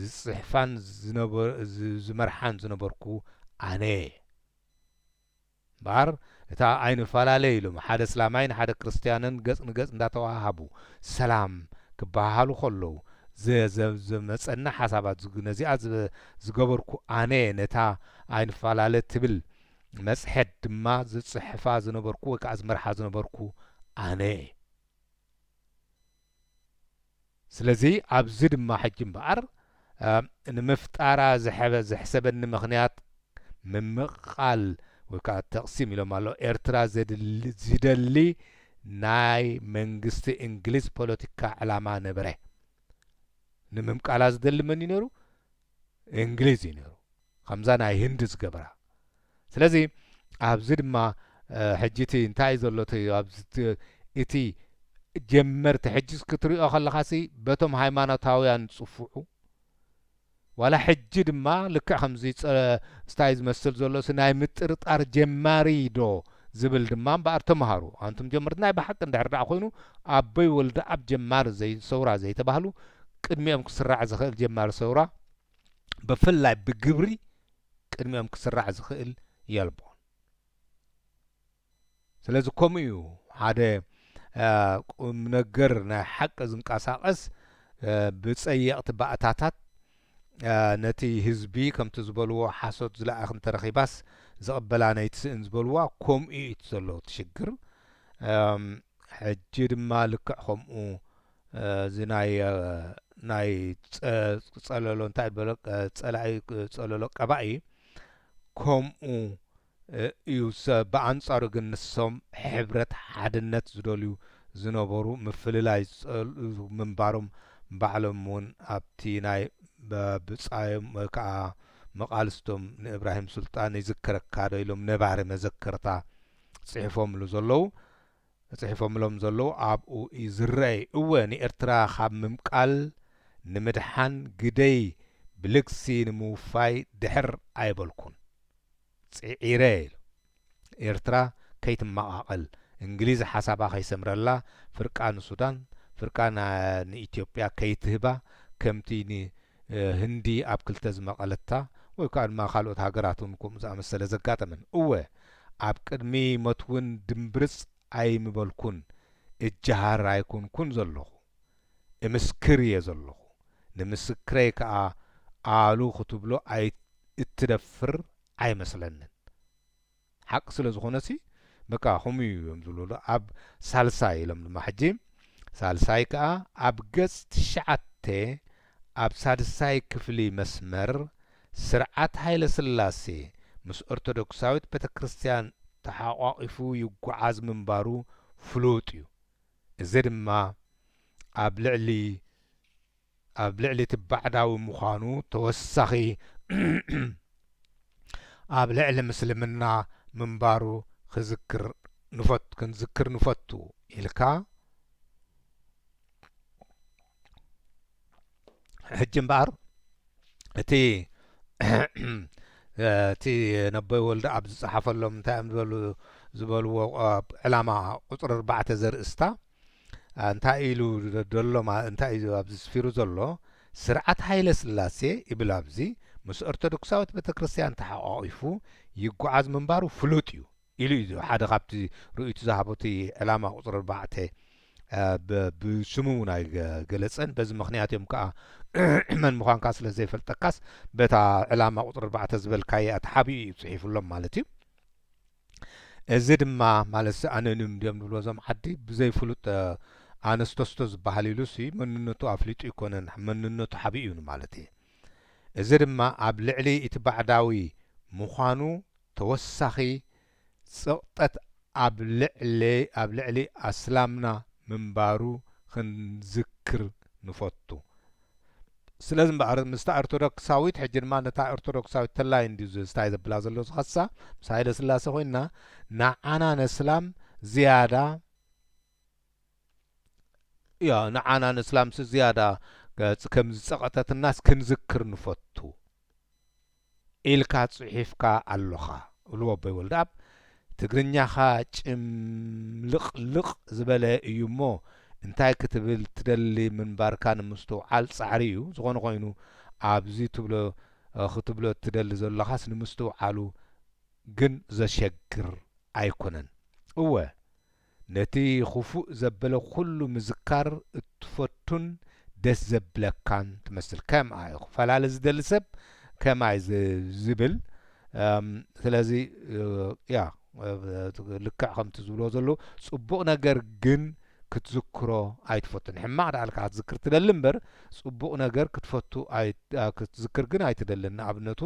ዝጽሕፋን ዝመርሓን ዝነበርኩ ኣነ'የ። እምበኣር እታ ኣይንፈላለ ኢሎም ሓደ ስላማይን ሓደ ክርስትያንን ገጽ ንገጽ እንዳተወሃሃቡ ሰላም ክበሃሃሉ ከለዉ ዘዘዘመጸኒ ሓሳባት ነዚኣ ዝገበርኩ ኣነ'የ ነታ ኣይንፈላለ ትብል መጽሔት ድማ ዝጽሕፋ ዝነበርኩ ወይ ከኣ ዝመርሓ ዝነበርኩ ኣነ እየ። ስለዚ ኣብዚ ድማ ሕጂ እምበኣር ንምፍጣራ ዝሐበ ዘሕሰበኒ ምኽንያት ምምቕቓል ወይ ከኣ ተቕሲም ኢሎም ኣሎ ኤርትራ ዝደሊ ናይ መንግስቲ እንግሊዝ ፖለቲካ ዕላማ ነበረ። ንምምቃላ ዝደሊ መንዩ ነይሩ? እንግሊዝ እዩ ነይሩ ከምዛ ናይ ህንዲ ዝገበራ ስለዚ ኣብዚ ድማ ሕጂ እቲ እንታይ ዘሎ እቲ ጀመርቲ ሕጂ ክትሪኦ ከለኻሲ በቶም ሃይማኖታውያን ዝፅፍዑ ዋላ ሕጂ ድማ ልክዕ ከምዚ ስታይ ዝመስል ዘሎሲ ናይ ምጥርጣር ጀማሪ ዶ ዝብል ድማ እምበኣር ተምሃሩ ኣንቱም ጀመርቲ ናይ ብሓቂ እንድሕር ድኣ ኮይኑ ኣቦይ ወልደኣብ ጀማሪ ዘይ ሰውራ ዘይተባህሉ ቅድሚኦም ክስራዕ ዝኽእል ጀማሪ ሰውራ ብፍላይ ብግብሪ ቅድሚኦም ክስራዕ ዝኽእል የልቦን ስለዚ ከምኡ እዩ ሓደ ቁም ነገር ናይ ሓቂ ዝንቀሳቐስ ብፀየቕቲ ባእታታት ነቲ ህዝቢ ከምቲ ዝበልዎ ሓሶት ዝለኣኽ እንተረኺባስ ዝቕበላ ነይትስእን ዝበልዋ ኮምኡ እዩ እቲ ዘሎ እቲ ሽግር ሕጂ ድማ ልክዕ ከምኡ እዚ ናይ ናይ ጸለሎ እንታይ በሎ ጸላኢ ጸለሎ ቀባኢ ከምኡ እዩ ብኣንጻሩ ግን ንሶም ሕብረት ሓድነት ዝደልዩ ዝነበሩ ምፍልላይ ዝጸልኡ ምንባሮም ባዕሎም ውን ኣብቲ ናይ ብጻዮም ወይ ከኣ መቃልስቶም ንእብራሂም ሱልጣን ይዝክረካዶ ኢሎም ነባሪ መዘከርታ ጽሕፎምሉ ዘለዉ ጽሒፎምሎም ዘለዉ ኣብኡ እዩ ዝረኣይ እወ ንኤርትራ ካብ ምምቃል ንምድሓን ግደይ ብልግሲ ንምውፋይ ድሕር ኣይበልኩን ጽዒረ ኢሉ ኤርትራ ከይትመቓቐል እንግሊዝ ሓሳባ ከይሰምረላ ፍርቃ ንሱዳን ፍርቃ ንኢትዮጵያ ከይትህባ ከምቲ ን ህንዲ ኣብ ክልተ ዝመቐለታ ወይ ከኣ ድማ ካልኦት ሃገራት እውን ከምኡ ዝኣመሰለ ዘጋጠመን። እወ ኣብ ቅድሚ መትውን ድምብርጽ ኣይምበልኩን እጀሃር ኣይኮንኩን ዘሎኹ። እምስክር እየ ዘሎኹ። ንምስክረይ ከኣ ኣሉ ክትብሎ እትደፍር ኣይመስለንን። ሓቂ ስለ ዝኾነሲ በቃ ከምኡ እዩ እዮም ዝብሉ ዶ ኣብ ሳልሳይ ኢሎም ድማ ሕጂ ሳልሳይ ከኣ ኣብ ገጽ ትሽዓተ ኣብ ሳድሳይ ክፍሊ መስመር ስርዓት ሃይለስላሴ ምስ ኦርቶዶክሳዊት ቤተክርስትያን ተሓቋቒፉ ይጉዓዝ ምንባሩ ፍሉጥ እዩ እዚ ድማ ኣብ ልዕሊ ኣብ ልዕሊ እቲ ባዕዳዊ ምዃኑ ተወሳኺ ኣብ ልዕሊ ምስልምና ምንባሩ ክዝክር ክንዝክር ንፈቱ ኢልካ ሕጂ እምበኣር እቲ እቲ ነበይ ወልደኣብ ዝጸሓፈሎም እንታይ እዮም ዝበሉ ዝበልዎ ዕላማ ቁጽሪ ኣርባዕተ ዘርእስታ እንታይ ኢሉ ደሎ ማ እንታይ እዩ ኣብዚ ስፊሩ ዘሎ ስርዓት ሃይለ ስላሴ ይብል ኣብዚ ምስ ኦርቶዶክሳዊት ቤተክርስትያን ተሓቋቒፉ ይጉዓዝ ምንባሩ ፍሉጥ እዩ ኢሉ እዩ ሓደ ካብቲ ርእይቱ ዝሃቦ እቲ ዕላማ ቁጽሪ ኣርባዕተ ብ ብስሙ እውን ኣይገለጸን በዚ ምክንያት እዮም ከኣ መን ምዃንካ ስለ ዘይፈልጠካስ በታ ዕላማ ቁጽሪ ኣርባዕተ ዝበልካያ ተሓቢኡ እዩ ጽሒፉሎም ማለት እዩ እዚ ድማ ማለትሲ ኣኖኒም እንድዮም ዝብልዎ እዞም ዓዲ ብዘይ ፍሉጥ ኣነስተስቶ ዝበሃል ኢሉሲ መንነቱ ኣፍሊጡ ኣይኮነን መንነቱ ሓቢኡ ንማለት እየ። እዚ ድማ ኣብ ልዕሊ እቲ ባዕዳዊ ምዃኑ ተወሳኺ ጽቕጠት ኣብ ልዕሊ ኣስላምና ምንባሩ ክንዝክር ንፈቱ። ስለዚ እምበኣር ምስታ ኦርቶዶክሳዊት ሕጂ ድማ ነታ ኦርቶዶክሳዊት ተላይ እንዲዩ ዝስታይ ዘብላ ዘሎ ዝኸሳ ምስ ሃይለ ስላሴ ኮይና ንዓና ነስላም ዝያዳ ያ ንዓና ነስላምሲ ዝያዳ ከም ዝጸቐተትናስ ክንዝክር ንፈቱ ኢልካ ጽሒፍካ ኣሎኻ እሉ ኣቦይ ወልደኣብ ትግርኛኻ ጭምልቕልቕ ዝበለ እዩ እሞ እንታይ ክትብል ትደሊ ምንባርካ ንምስትውዓል ጻዕሪ እዩ ዝኾነ ኮይኑ ኣብዚ ትብሎ ክትብሎ እትደሊ ዘሎኻስ ንምስትውዓሉ ግን ዘሸግር ኣይኮነን እወ ነቲ ኹፉእ ዘበለ ኩሉ ምዝካር እትፈቱን ደስ ዘብለካን ትመስል ከም ኣይ ኹፈላለ ዝደሊ ሰብ ከም ኣይ ዝብል ስለዚ ያ ልክዕ ከምቲ ዝብልዎ ዘሎ ጽቡቕ ነገር ግን ክትዝክሮ ኣይትፈቱን ሕማቕ ደኣ ልካ ክትዝክር ትደሊ እምበር ጽቡቕ ነገር ክትፈቱ ክትዝክር ግን ኣይትደልን ንኣብነቱ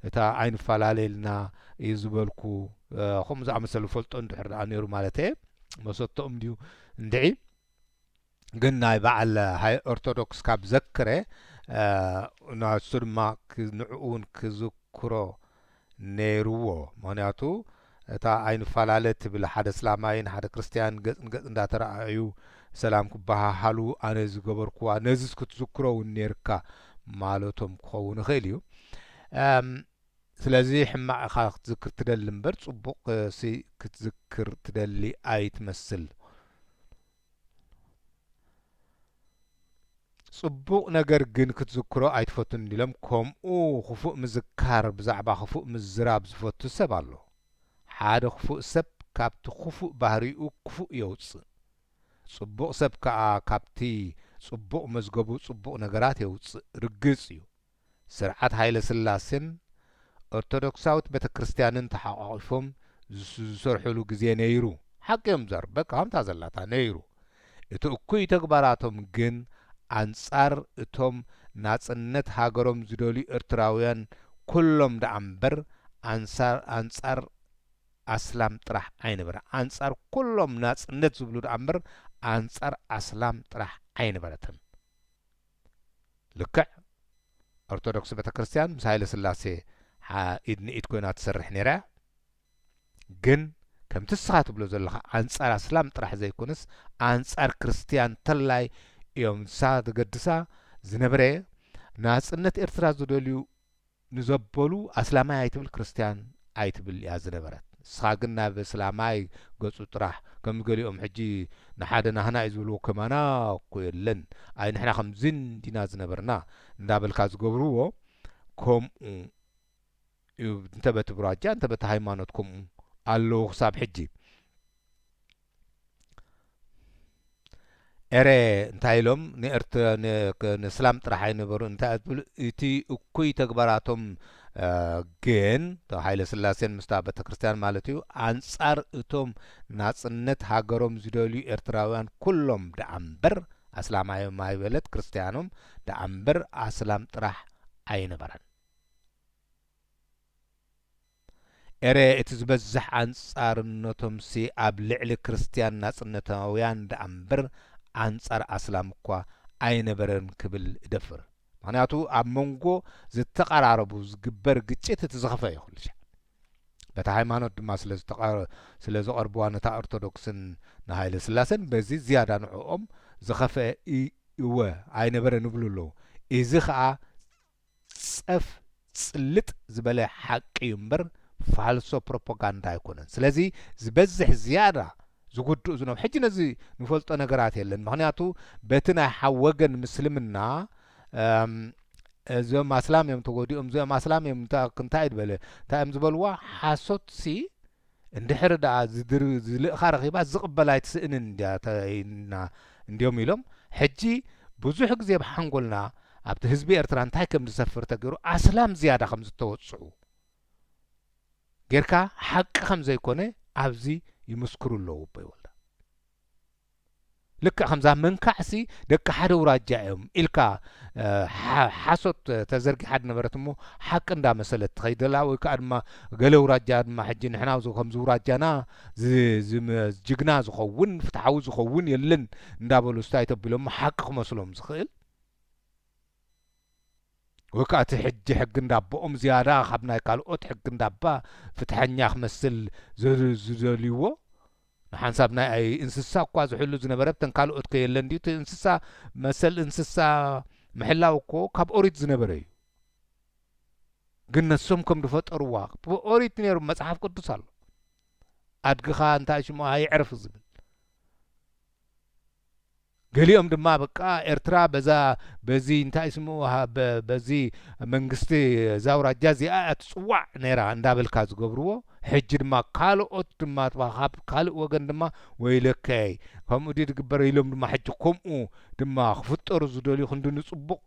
እታ ኣይንፋላለ ኢልና እዩ ዝበልኩ ከምኡ ዝኣመሰለ ፈልጦ እንድሕር ደኣ ነይሩ ማለተየ መሰተኦም ድዩ እንድዒ ግን ናይ በዓል ሃይ ኦርቶዶክስ ካብ ዘክረ ናሱ ድማ ንዕኡ እውን ክዝክሮ ነይርዎ ምክንያቱ እታ ኣይንፋላለ ትብል ሓደ ኣስላማይን ሓደ ክርስትያን ገጽ ንገጽ እንዳ ተራኣኣዩ ሰላም ክበሃሃሉ ኣነ ዝገበርኩዋ ነዚስ ክትዝክሮ ውን ኔርካ ማለቶም ክኸውን ይኽእል እዩ እም ስለዚ ሕማቅ ኢኻ ክትዝክር ትደሊ እምበር ጽቡቅ ሲ ክትዝክር ትደሊ ኣይትመስል። ጽቡቕ ነገር ግን ክትዝክሮ ኣይትፈቱን እንዲሎም ከምኡ ክፉእ ምዝካር ብዛዕባ ክፉእ ምዝራብ ዝፈቱ ሰብ ኣሎ ሓደ ክፉእ ሰብ ካብቲ ክፉእ ባህሪኡ ክፉእ የውጽእ ጽቡቕ ሰብ ከኣ ካብቲ ጽቡቕ መዝገቡ ጽቡቕ ነገራት የውጽእ ርግጽ እዩ ስርዓት ሃይለስላሴን ኦርቶዶክሳዊት ቤተክርስትያንን ተሓቋቒፎም ዝሰርሑሉ ግዜ ነይሩ። ሓቂ እዮም ዝዛረቡ በቃ ከምታ ዘላታ ነይሩ። እቲ እኩይ ተግባራቶም ግን ኣንጻር እቶም ናጽነት ሃገሮም ዝደልዩ ኤርትራውያን ኩሎም ደኣ እምበር ኣንሳር ኣንጻር ኣስላም ጥራሕ ኣይነበረን። ኣንጻር ኩሎም ናጽነት ዝብሉ ደኣ እምበር ኣንጻር ኣስላም ጥራሕ ኣይነበረትን። ልክዕ ኦርቶዶክስ ቤተክርስትያን ምስ ሃይለስላሴ ሓ ኢድ ንኢድ ኮይና ትሰርሕ ነይራ እያ ግን ከምቲ እስኻ ትብሎ ዘለኻ ኣንጻር ኣስላም ጥራሕ ዘይኮነስ ኣንጻር ክርስትያን ተላይ እዮም ንሳ ዘገድሳ ዝነበረ ናጽነት ኤርትራ ዝደልዩ ንዘበሉ ኣስላማይ ኣይትብል ክርስትያን ኣይትብል ኢያ ዝነበረት ንስኻ ግን ናብ እስላማይ ገጹ ጥራሕ ከም ገሊኦም ሕጂ ንሓደ ናህና ኢዩ ዝብልዎ ከማና እኮ የለን ኣይ ንሕና ከምዚ እንዲና ዝነበርና እንዳበልካ ዝገብርዎ ከምኡ ኢዩ እንተ በቲ ብራጃ እንተ በቲ ሃይማኖት ከምኡ ኣለዉ ክሳብ ሕጂ ኤረየ እንታይ ኢሎም ንስላም ጥራሕ ኣይነበሩን እንታይ እያ ትብሉ እቲ እኩይ ተግባራቶም ግን እቶ ሃይለስላሴን ምስታ ቤተክርስትያን ማለት እዩ ኣንጻር እቶም ናጽነት ሃገሮም ዝደልዩ ኤርትራውያን ኩሎም ደኣ እምበር ኣስላማዮም ኣይበለት ክርስትያኖም ደኣ እምበር ኣስላም ጥራሕ ኣይነበረን ኤረ እቲ ዝበዝሕ ኣንጻርነቶምሲ ኣብ ልዕሊ ክርስትያን ናጽነታውያን ደኣምበር ኣንጻር ኣስላም እኳ ኣይነበረን ክብል እደፍር ምኽንያቱ ኣብ መንጎ ዝተቐራረቡ ዝግበር ግጭት እቲ ዝኸፈ እዩ ኩልሻዕ በታ ሃይማኖት ድማ ስለ ዝቐርብዋ ነታ ኦርቶዶክስን ንሃይለስላሰን በዚ ዝያዳ ንዕኦም ዝኸፍኤ እወ ኣይነበረን እብሉ ኣለዉ እዚ ከኣ ጸፍ ጽልጥ ዝበለ ሓቂ እዩ እምበር ፋልሶ ፕሮፖጋንዳ ኣይኮነን ስለዚ ዝበዝሕ ዝያዳ ዝጉድኡ ዝነብ ሕጂ ነዚ ንፈልጦ ነገራት የለን ምክንያቱ በቲ ናይ ሓው ወገን ምስልምና እዞም ኣስላም እዮም ተጎዲኦም እዚኦም ኣስላም እዮም እንታይ እዩ ድበለ እንታይ እዮም ዝበልዋ ሓሶት ሲ እንድሕሪ ደኣ ዝልእኻ ረኺባስ ዝቕበል ኣይትስእንን እንድያ ኢልና እንድዮም ኢሎም ሕጂ ብዙሕ ግዜ ኣብ ሓንጎልና ኣብቲ ህዝቢ ኤርትራ እንታይ ከም ዝሰፍር ተገይሩ ኣስላም ዝያዳ ከም ዝተወጽዑ ጌርካ ሓቂ ከም ዘይኮነ ኣብዚ ይምስክሩ ኣለዉ ኣቦይ ወልዳ። ልክዕ ከምዛ መንካዕሲ ደቂ ሓደ ኣውራጃ እዮም ኢልካ ሓሶት ተዘርጊሓ ዝነበረት እሞ ሓቂ እንዳመሰለት ትኸይድ ዘላ ወይ ከዓ ድማ ገለ ኣውራጃ ድማ ሕጂ ንሕና ከምዚ ኣውራጃና ጅግና ዝኸውን ፍትሓዊ ዝኸውን የለን እንዳበሉ ስታይ ተቢሎም ሓቂ ክመስሎም ዝኽእል ወይ ከኣ እቲ ሕጂ ሕጊ እንዳቦኦም ዝያዳ ካብ ናይ ካልኦት ሕጊ እንዳባ ፍትሐኛ ክመስል ዝደልይዎ ንሓንሳብ ናይ እንስሳ እኳ ዝሕሉ ዝነበረ ብተን ካልኦት ከ የለን ድዩ እቲ እንስሳ መሰል እንስሳ ምሕላው እኮ ካብ ኦሪት ዝነበረ እዩ ግን ነሶም ከም ዝፈጠርዋ ኦሪት ነይሩ መጽሓፍ ቅዱስ ኣሎ ኣድግኻ እንታይ ሽሙ ኣይዕርፍ ዝብል ገሊኦም ድማ በቃ ኤርትራ በዛ በዚ እንታይ ስሙ በዚ መንግስቲ እዛ ኣውራጃ እዚኣ እያ ትጽዋዕ ነይራ እንዳበልካ ዝገብርዎ ሕጂ ድማ ካልኦት ድማ ካብ ካልእ ወገን ድማ ወይለከይ ከምኡ ድዩ ዝግበር ኢሎም ድማ ሕጂ ከምኡ ድማ ክፍጠሩ ዝደልዩ ክንዲ ንጽቡቕ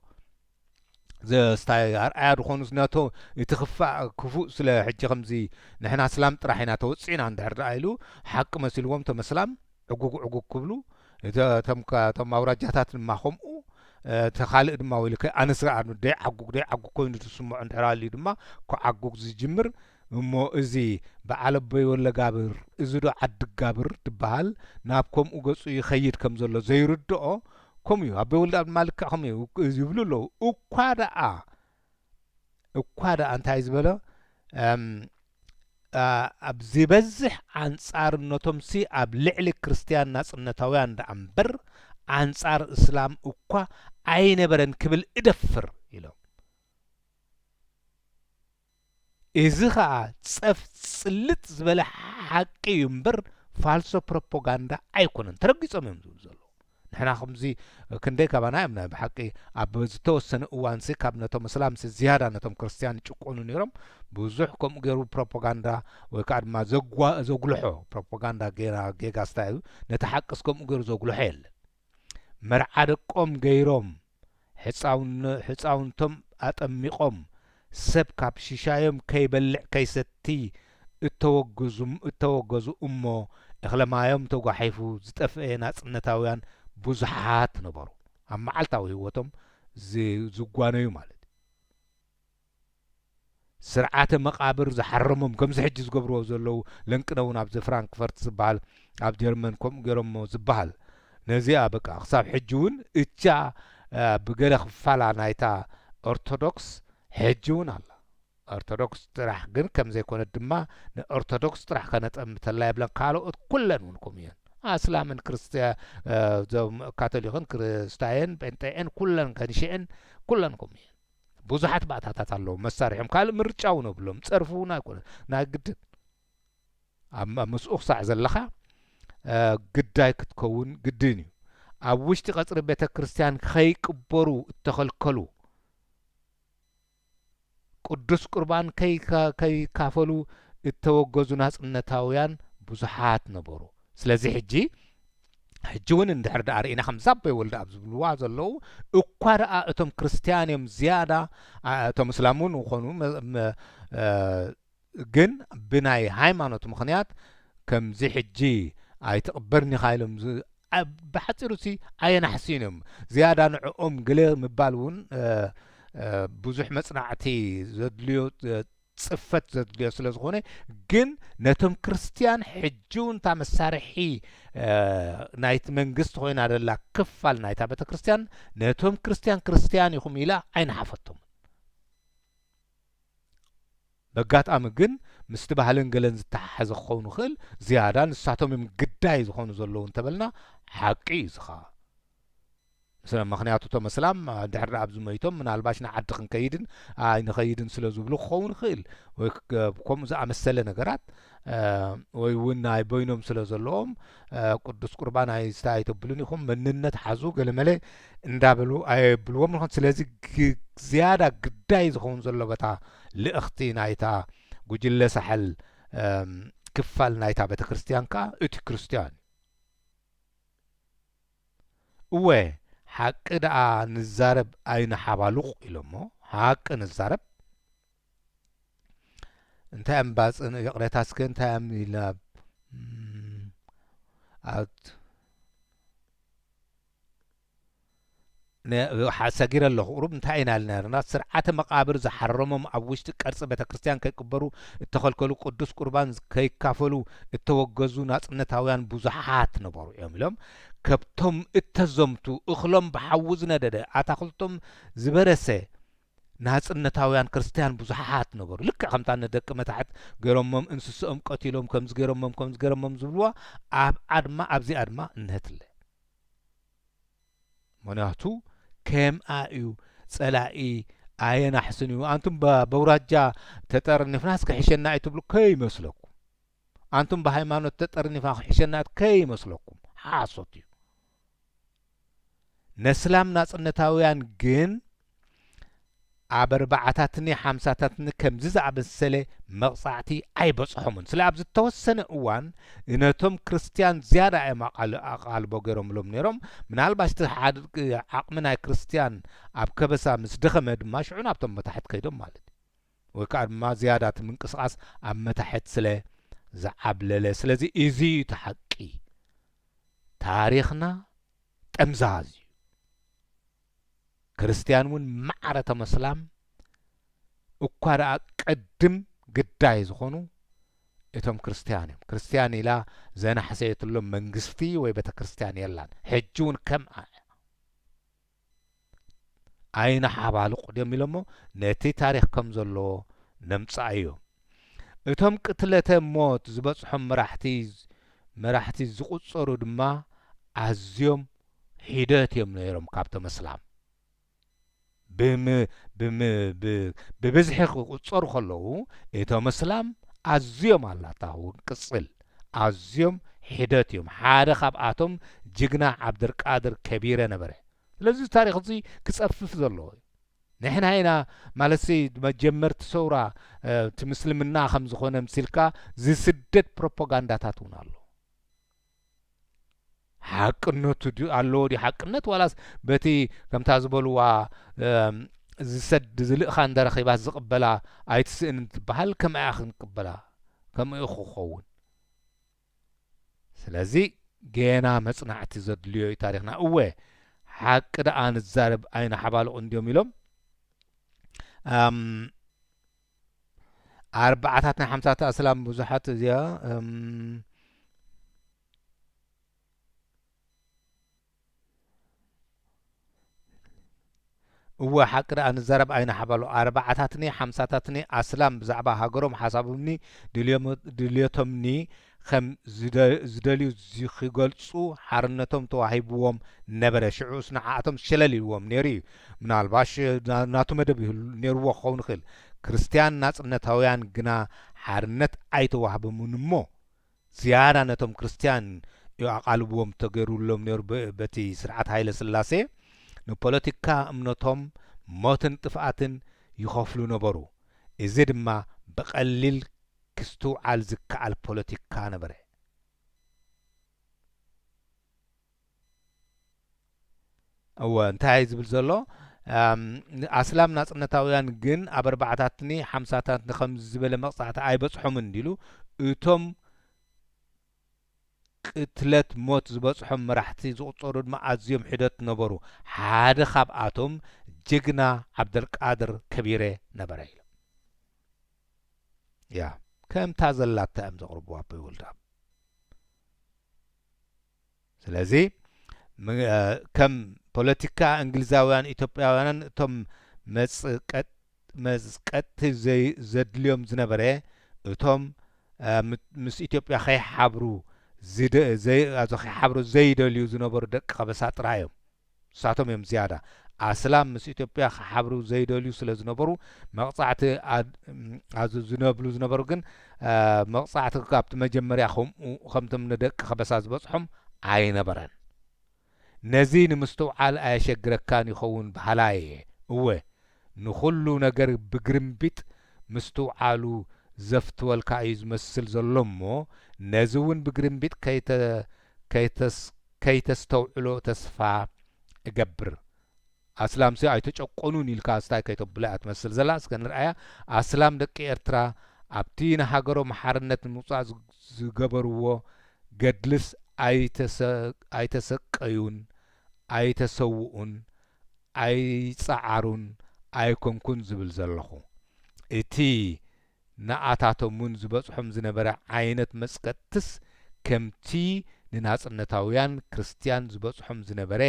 ዘስታይ ኣርኣያ ዝኾኑ ዝነቶ እቲ ክፋእ ክፉእ ስለ ሕጂ ከምዚ ንሕና ስላም ጥራሕ ኢና ተወጺዕና እንድሕር ደኣ ኢሉ ሓቂ መሲልዎም እቶም ኣስላም ዕጉግ ዕጉግ ክብሉ እቶም እቶም ኣውራጃታት ድማ ከምኡ እቲ ካልእ ድማ ወይልከ ኣንስራ ኣኑ ደይዓጉግ ደይዓጉግ ኮይኑ ዝስምዖ እንድሕር ኣልዩ ድማ ክዓጉግ ዝጅምር እሞ እዚ በዓል ኣቦይ ወለጋብር እዚዶ ዓዲጋብር ድበሃል ናብ ከምኡ ገጹ ይኸይድ ከም ዘሎ ዘይርድኦ ከምኡ እዩ ኣቦይ ወልድኣብ ድማ ልክዕ ከምኡ እዩ ይብሉ ኣለዉ እኳ ደኣ እኳ ደኣ እንታይ ዝበሎ ኣብ ዝበዝሕ ኣንጻርነቶምሲ ኣብ ልዕሊ ክርስትያን ናጽነታውያን ደኣ እምበር ኣንጻር እስላም እኳ ኣይነበረን ክብል እደፍር ኢሎም እዚ ከኣ ጸፍ ጽልጥ ዝበለ ሓቂ እዩ እምበር ፋልሶ ፕሮፖጋንዳ ኣይኮነን ተረጊጾም እዮም ዝብሉ ዘለዉ ንሕና ከምዚ ክንደይ ካባና እዮም ናይ ብሓቂ ኣብ ዝተወሰነ እዋንሲ ካብ ነቶም እስላምሲ ዝያዳ ነቶም ክርስትያን ይጭቆኑ ነይሮም ብዙሕ ከምኡ ገይሩ ፕሮፖጋንዳ ወይ ከዓ ድማ ዘጉልሖ ፕሮፖጋንዳ ገይራ ጌጋስታ እዩ ነቲ ሓቅስ ከምኡ ገይሩ ዘጉልሖ የለን መርዓ ደቆም ገይሮም ሕጻውንቶም ኣጠሚቖም ሰብ ካብ ሽሻዮም ከይበልዕ ከይሰቲ እተወገዙ እሞ እኽለማዮም ተጓሒፉ ዝጠፍኤ ናጽነታውያን ብዙሓት ነበሩ ኣብ መዓልታዊ ህይወቶም ዝጓነዩ ማለት እዩ። ስርዓተ መቓብር ዝሓረሞም ከምዚ ሕጂ ዝገብርዎ ዘለዉ ለንቅነውን ኣብዚ ፍራንክፈርት ዝበሃል ኣብ ጀርመን ከምኡ ገይሮሞ ዝበሃል ነዚኣ በቃ ክሳብ ሕጂ ውን እታ ብገለ ክፋላ ናይታ ኦርቶዶክስ ሕጂ ውን ኣላ ኦርቶዶክስ ጥራሕ ግን ከም ዘይኮነት ድማ ንኦርቶዶክስ ጥራሕ ከነጠምተላ የብለን ካልኦት ኩለን ውን ከምኡ እየን ኣስላምን ክርስትያ ዞም ካቶሊክን ክርስታየን ጴንጤኤን ኩለን ከንሽኤን ኩለን ከምኡ እየን ብዙሓት ባእታታት ኣለዎም፣ መሳርሒኦም፣ ካልእ ምርጫ እውን የብሎም፣ ጸርፊ እውን ኣይኮነን፣ ናይ ግድን ኣብ ምስኡ ክሳዕ ዘለኻ ግዳይ ክትከውን ግድን እዩ። ኣብ ውሽጢ ቀጽሪ ቤተ ክርስቲያን ከይቅበሩ እተኸልከሉ፣ ቅዱስ ቁርባን ከይካፈሉ እተወገዙ ናጽነታውያን ብዙሓት ነበሩ። ስለዚ ሕጂ ሕጂ እውን እንድሕር ደኣ ርኢና ከም ዛቦይ ወልደ ኣብ ዝብልዋ ዘለዉ እኳ ደኣ እቶም ክርስትያን እዮም ዝያዳ እቶም እስላም እውን ይኾኑ ግን ብናይ ሃይማኖት ምኽንያት ከምዚ ሕጂ ኣይትቕበርን ኢኻ ኢሎም ብሓፂሩ ሲ ኣየናሕስዩን እዮም ዝያዳ ንዕኦም ግለ ምባል እውን ብዙሕ መፅናዕቲ ዘድልዮ ጽፈት ዘድልዮ ስለ ዝኾነ ግን ነቶም ክርስትያን ሕጂ እውን እታ መሳርሒ ናይቲ መንግስቲ ኮይና ዘላ ክፋል ናይታ ቤተ ክርስትያን ነቶም ክርስትያን ክርስትያን ኢኹም ኢላ ኣይነሓፈቶም በጋጣሚ ግን ምስቲ ባህልን ገለን ዝተሓሓዘ ክኸውን ይኽእል ዝያዳ ንሳቶም እዮም ግዳይ ዝኾኑ ዘለዉ እንተበልና ሓቂ እዩ ዝኻ ስለ ምኽንያቱ እቶም ኣስላም ድሕሪ ኣብዚ መይቶም ምናልባሽ ንዓዲ ክንከይድን ኣይንኸይድን ስለ ዝብሉ ክኸውን ይኽእል ወይ ከምኡ ዝኣመሰለ ነገራት ወይ እውን ናይ በይኖም ስለ ዘለዎም ቅዱስ ቁርባን ኣይስታ ኣይተብሉን ኢኹም መንነት ሓዙ ገለመለ እንዳበሉ ኣየብልዎም ንኾን ስለዚ ዝያዳ ግዳይ ዝኸውን ዘሎ በታ ልእኽቲ ናይታ ጉጅለ ሳሕል ክፋል ናይታ ቤተ ክርስትያን ከዓ እቲ ክርስትያን እወ ሓቂ ደኣ ንዛረብ ኣይንሓባሉቕ ኢሎሞ ሓቂ ንዛረብ እንታይ እም ባጽን ይቕሬታ እስከ እንታይ እም ኢልና ኣብ ን ሓ ሰጊረ ኣለኹ ቁሩብ እንታይ ኢና ኢልና ነርና ስርዓተ መቃብር ዝሓረሞም ኣብ ውሽጢ ቀርጺ ቤተክርስትያን ከይቅበሩ እተኸልከሉ ቅዱስ ቁርባን ከይካፈሉ እተወገዙ ናጽነታውያን ብዙሓት ነበሩ እዮም ኢሎም ከብቶም እተዘምቱ እኽሎም ብሓዊ ዝነደደ ኣታኽልቶም ዝበረሰ ናጽነታውያን ክርስትያን ብዙሓት ነበሩ ልክዕ ከምታ ንደቂ መታሕት ገይሮሞም እንስስኦም ቀቲሎም ከምዚ ገይሮሞም ከምዚ ገይሮሞም ዝብልዋ ኣብ ኣድማ ኣብዚ ኣድማ እነሀትለ ምክንያቱ ከምኣ እዩ ጸላኢ ኣየናሕስን እዩ ኣንቱም በውራጃ ተጠርኒፍናስ ክሕሸና እዩ ትብሉ ከይመስለኩም ኣንቱም ብሃይማኖት ተጠርኒፍና ክሕሸና ከይመስለኩም ሓሶት እዩ ነስላም ናጽነታውያን ግን ኣብ ኣርባዓታትኒ ሓምሳታትኒ ከምዚ ዝኣመሰለ መቕጻዕቲ ኣይበጽሖምን። ስለ ኣብ ዝተወሰነ እዋን ነቶም ክርስትያን ዝያዳ እዮም ኣቓል ኣቓልቦ ገይሮምሎም ነይሮም፣ ምናልባሽ እቲ ሓድ ዓቕሚ ናይ ክርስትያን ኣብ ከበሳ ምስ ደኸመ ድማ ሽዑ ናብቶም መታሕት ከይዶም ማለት እዩ። ወይ ከኣ ድማ ዝያዳ እቲ ምንቅስቓስ ኣብ መታሕት ስለ ዝዓብለለ። ስለዚ እዚ እዩ እቲ ሓቂ። ታሪኽና ጠምዛዝ እዩ። ክርስትያን እውን ማዕረ እቶም ኣስላም እኳ ደኣ ቅድም ግዳይ ዝኾኑ እቶም ክርስትያን እዮም። ክርስትያን ኢላ ዘናሕሰየትሎም መንግስቲ ወይ ቤተ ክርስትያን የላን። ሕጂ እውን ከምኣ እያ። ኣይንሓባልቑ ድዮም ኢሎሞ ነቲ ታሪኽ ከም ዘለዎ ነምጽኣዮ። እቶም ቅትለተ ሞት ዝበጽሖም መራሕቲ መራሕቲ ዝቑጸሩ ድማ ኣዝዮም ሒደት እዮም ነይሮም ካብቶም ኣስላም ብም ብም ብ ብብዝሒ ክቁጸሩ ከለዉ እቶም ኣስላም ኣዝዮም ኣላታ ውን ቅጽል ኣዝዮም ሒደት እዮም ሓደ ካብኣቶም ጅግና ዓብደርቃድር ከቢረ ነበረ ስለዚ እዚ ታሪኽ እዚ ክጸፍፍ ዘለዎ እዩ ንሕና ኢና ማለትሲ መጀመርቲ ሰውራ እቲ ምስልምና ከም ዝኾነ ምሲልካ ዝስደድ ፕሮፖጋንዳታት ውን ኣሎ ሓቅነቱ ድዩ ኣለዎ ድዩ ሓቅነት ዋላስ በቲ ከምታ ዝበልዋ ዝሰድ ዝልእኻ እንደረኺባት ዝቕበላ ኣይትስእን እንትበሃል ከምኣ ክንቅበላ ከምኡ ክኸውን ስለዚ ጌና መጽናዕቲ ዘድልዮ እዩ ታሪኽና እወ ሓቂ ደኣ ንዛረብ ኣይንሓባልቑ እንድዮም ኢሎም ኣርባዓታት ናይ ሓምሳታት ኣስላም ብዙሓት እዚኣ እወ ሓቂ ደኣ ንዛረብ ኣይንሓባሉ ኣርባዓታትኒ ሓምሳታትኒ ኣስላም ብዛዕባ ሃገሮም ሓሳቦምኒ ድልዮምኒ ከም ዝደልዩ ዚኺገልጹ ሓርነቶም ተዋሂብዎም ነበረ። ሽዑስ ንዓኣቶም ሸለል ኢልዎም ነይሩ እዩ። ምናልባሽ ናቱ መደብ ነይርዎ ኪኸውን ይኽእል። ክርስትያን ናጽነታውያን ግና ሓርነት ኣይተዋህበሙን እሞ፣ ዝያዳ ነቶም ክርስትያን እዩ ኣቓልቦም ተገይሩሎም ነይሩ። በቲ ስርዓት ሃይለ ስላሴ ንፖለቲካ እምነቶም ሞትን ጥፍኣትን ይኸፍሉ ነበሩ። እዚ ድማ ብቐሊል ክስትውዓል ዝከኣል ፖለቲካ ነበረ። እወ እንታይ እየ ዝብል ዘሎ ኣስላም ናጽነታውያን ግን ኣብ ኣርባዓታትኒ ሓምሳታትኒ ከምዚ ዝበለ መቕጻዕቲ ኣይበጽሖምን እንዲሉ እቶም ቅትለት ሞት ዝበጽሖም መራሕቲ ዝቑጸሩ ድማ ኣዝዮም ሒደት ነበሩ ሓደ ካብኣቶም ጅግና ዓብደልቃድር ከቢረ ነበረ ኢሎም። ያ ከምታ ዘላታ እዮም ዘቕርቡ ኣቦይ ወልድኣብ ስለዚ ከም ፖለቲካ እንግሊዛውያን ኢትዮጵያውያንን እቶም መዝቀጥቲ ዘድልዮም ዝነበረ እቶም ምስ ኢትዮጵያ ከይሓብሩ ከይሓብሩ ዘይደልዩ ዝነበሩ ደቂ ከበሳ ጥራይ እዮም ንሳቶም እዮም ዝያዳ ኣስላም ምስ ኢትዮጵያ ክሓብሩ ዘይደልዩ ስለ ዝነበሩ መቕጻዕቲ ኣዝዝነብሉ ዝነበሩ ግን መቕጻዕቲ ካብቲ መጀመርያ ከምኡ ከምቶም ንደቂ ከበሳ ዝበጽሖም ኣይነበረን ነዚ ንምስትውዓል ኣየሸግረካን ይኸውን በሃላይ እየ እወ ንኹሉ ነገር ብግርምቢጥ ምስትውዓሉ ዘፍትወልካ እዩ ዝመስል ዘሎ እሞ ነዚ እውን ብግርምቢጥ ከይተ ከይተስ ከይተስተውዕሎ ተስፋ እገብር። ኣስላምሲ ኣይተጨቆኑን ኢልካ ኣስታይ ከይተብሎ እያ ትመስል ዘላ እስከ ንርኣያ ኣስላም ደቂ ኤርትራ ኣብቲ ንሃገሮም ሓርነት ንምውጻእ ዝገበርዎ ገድልስ ኣይተሰቀዩን ኣይተሰውኡን ኣይጸዓሩን ኣይኮንኩን ዝብል ዘለኹ እቲ ንኣታቶም'ውን ዝበጽሖም ዝነበረ ዓይነት መጽቀጥትስ ከምቲ ንናጽነታውያን ክርስትያን ዝበጽሖም ዝነበረ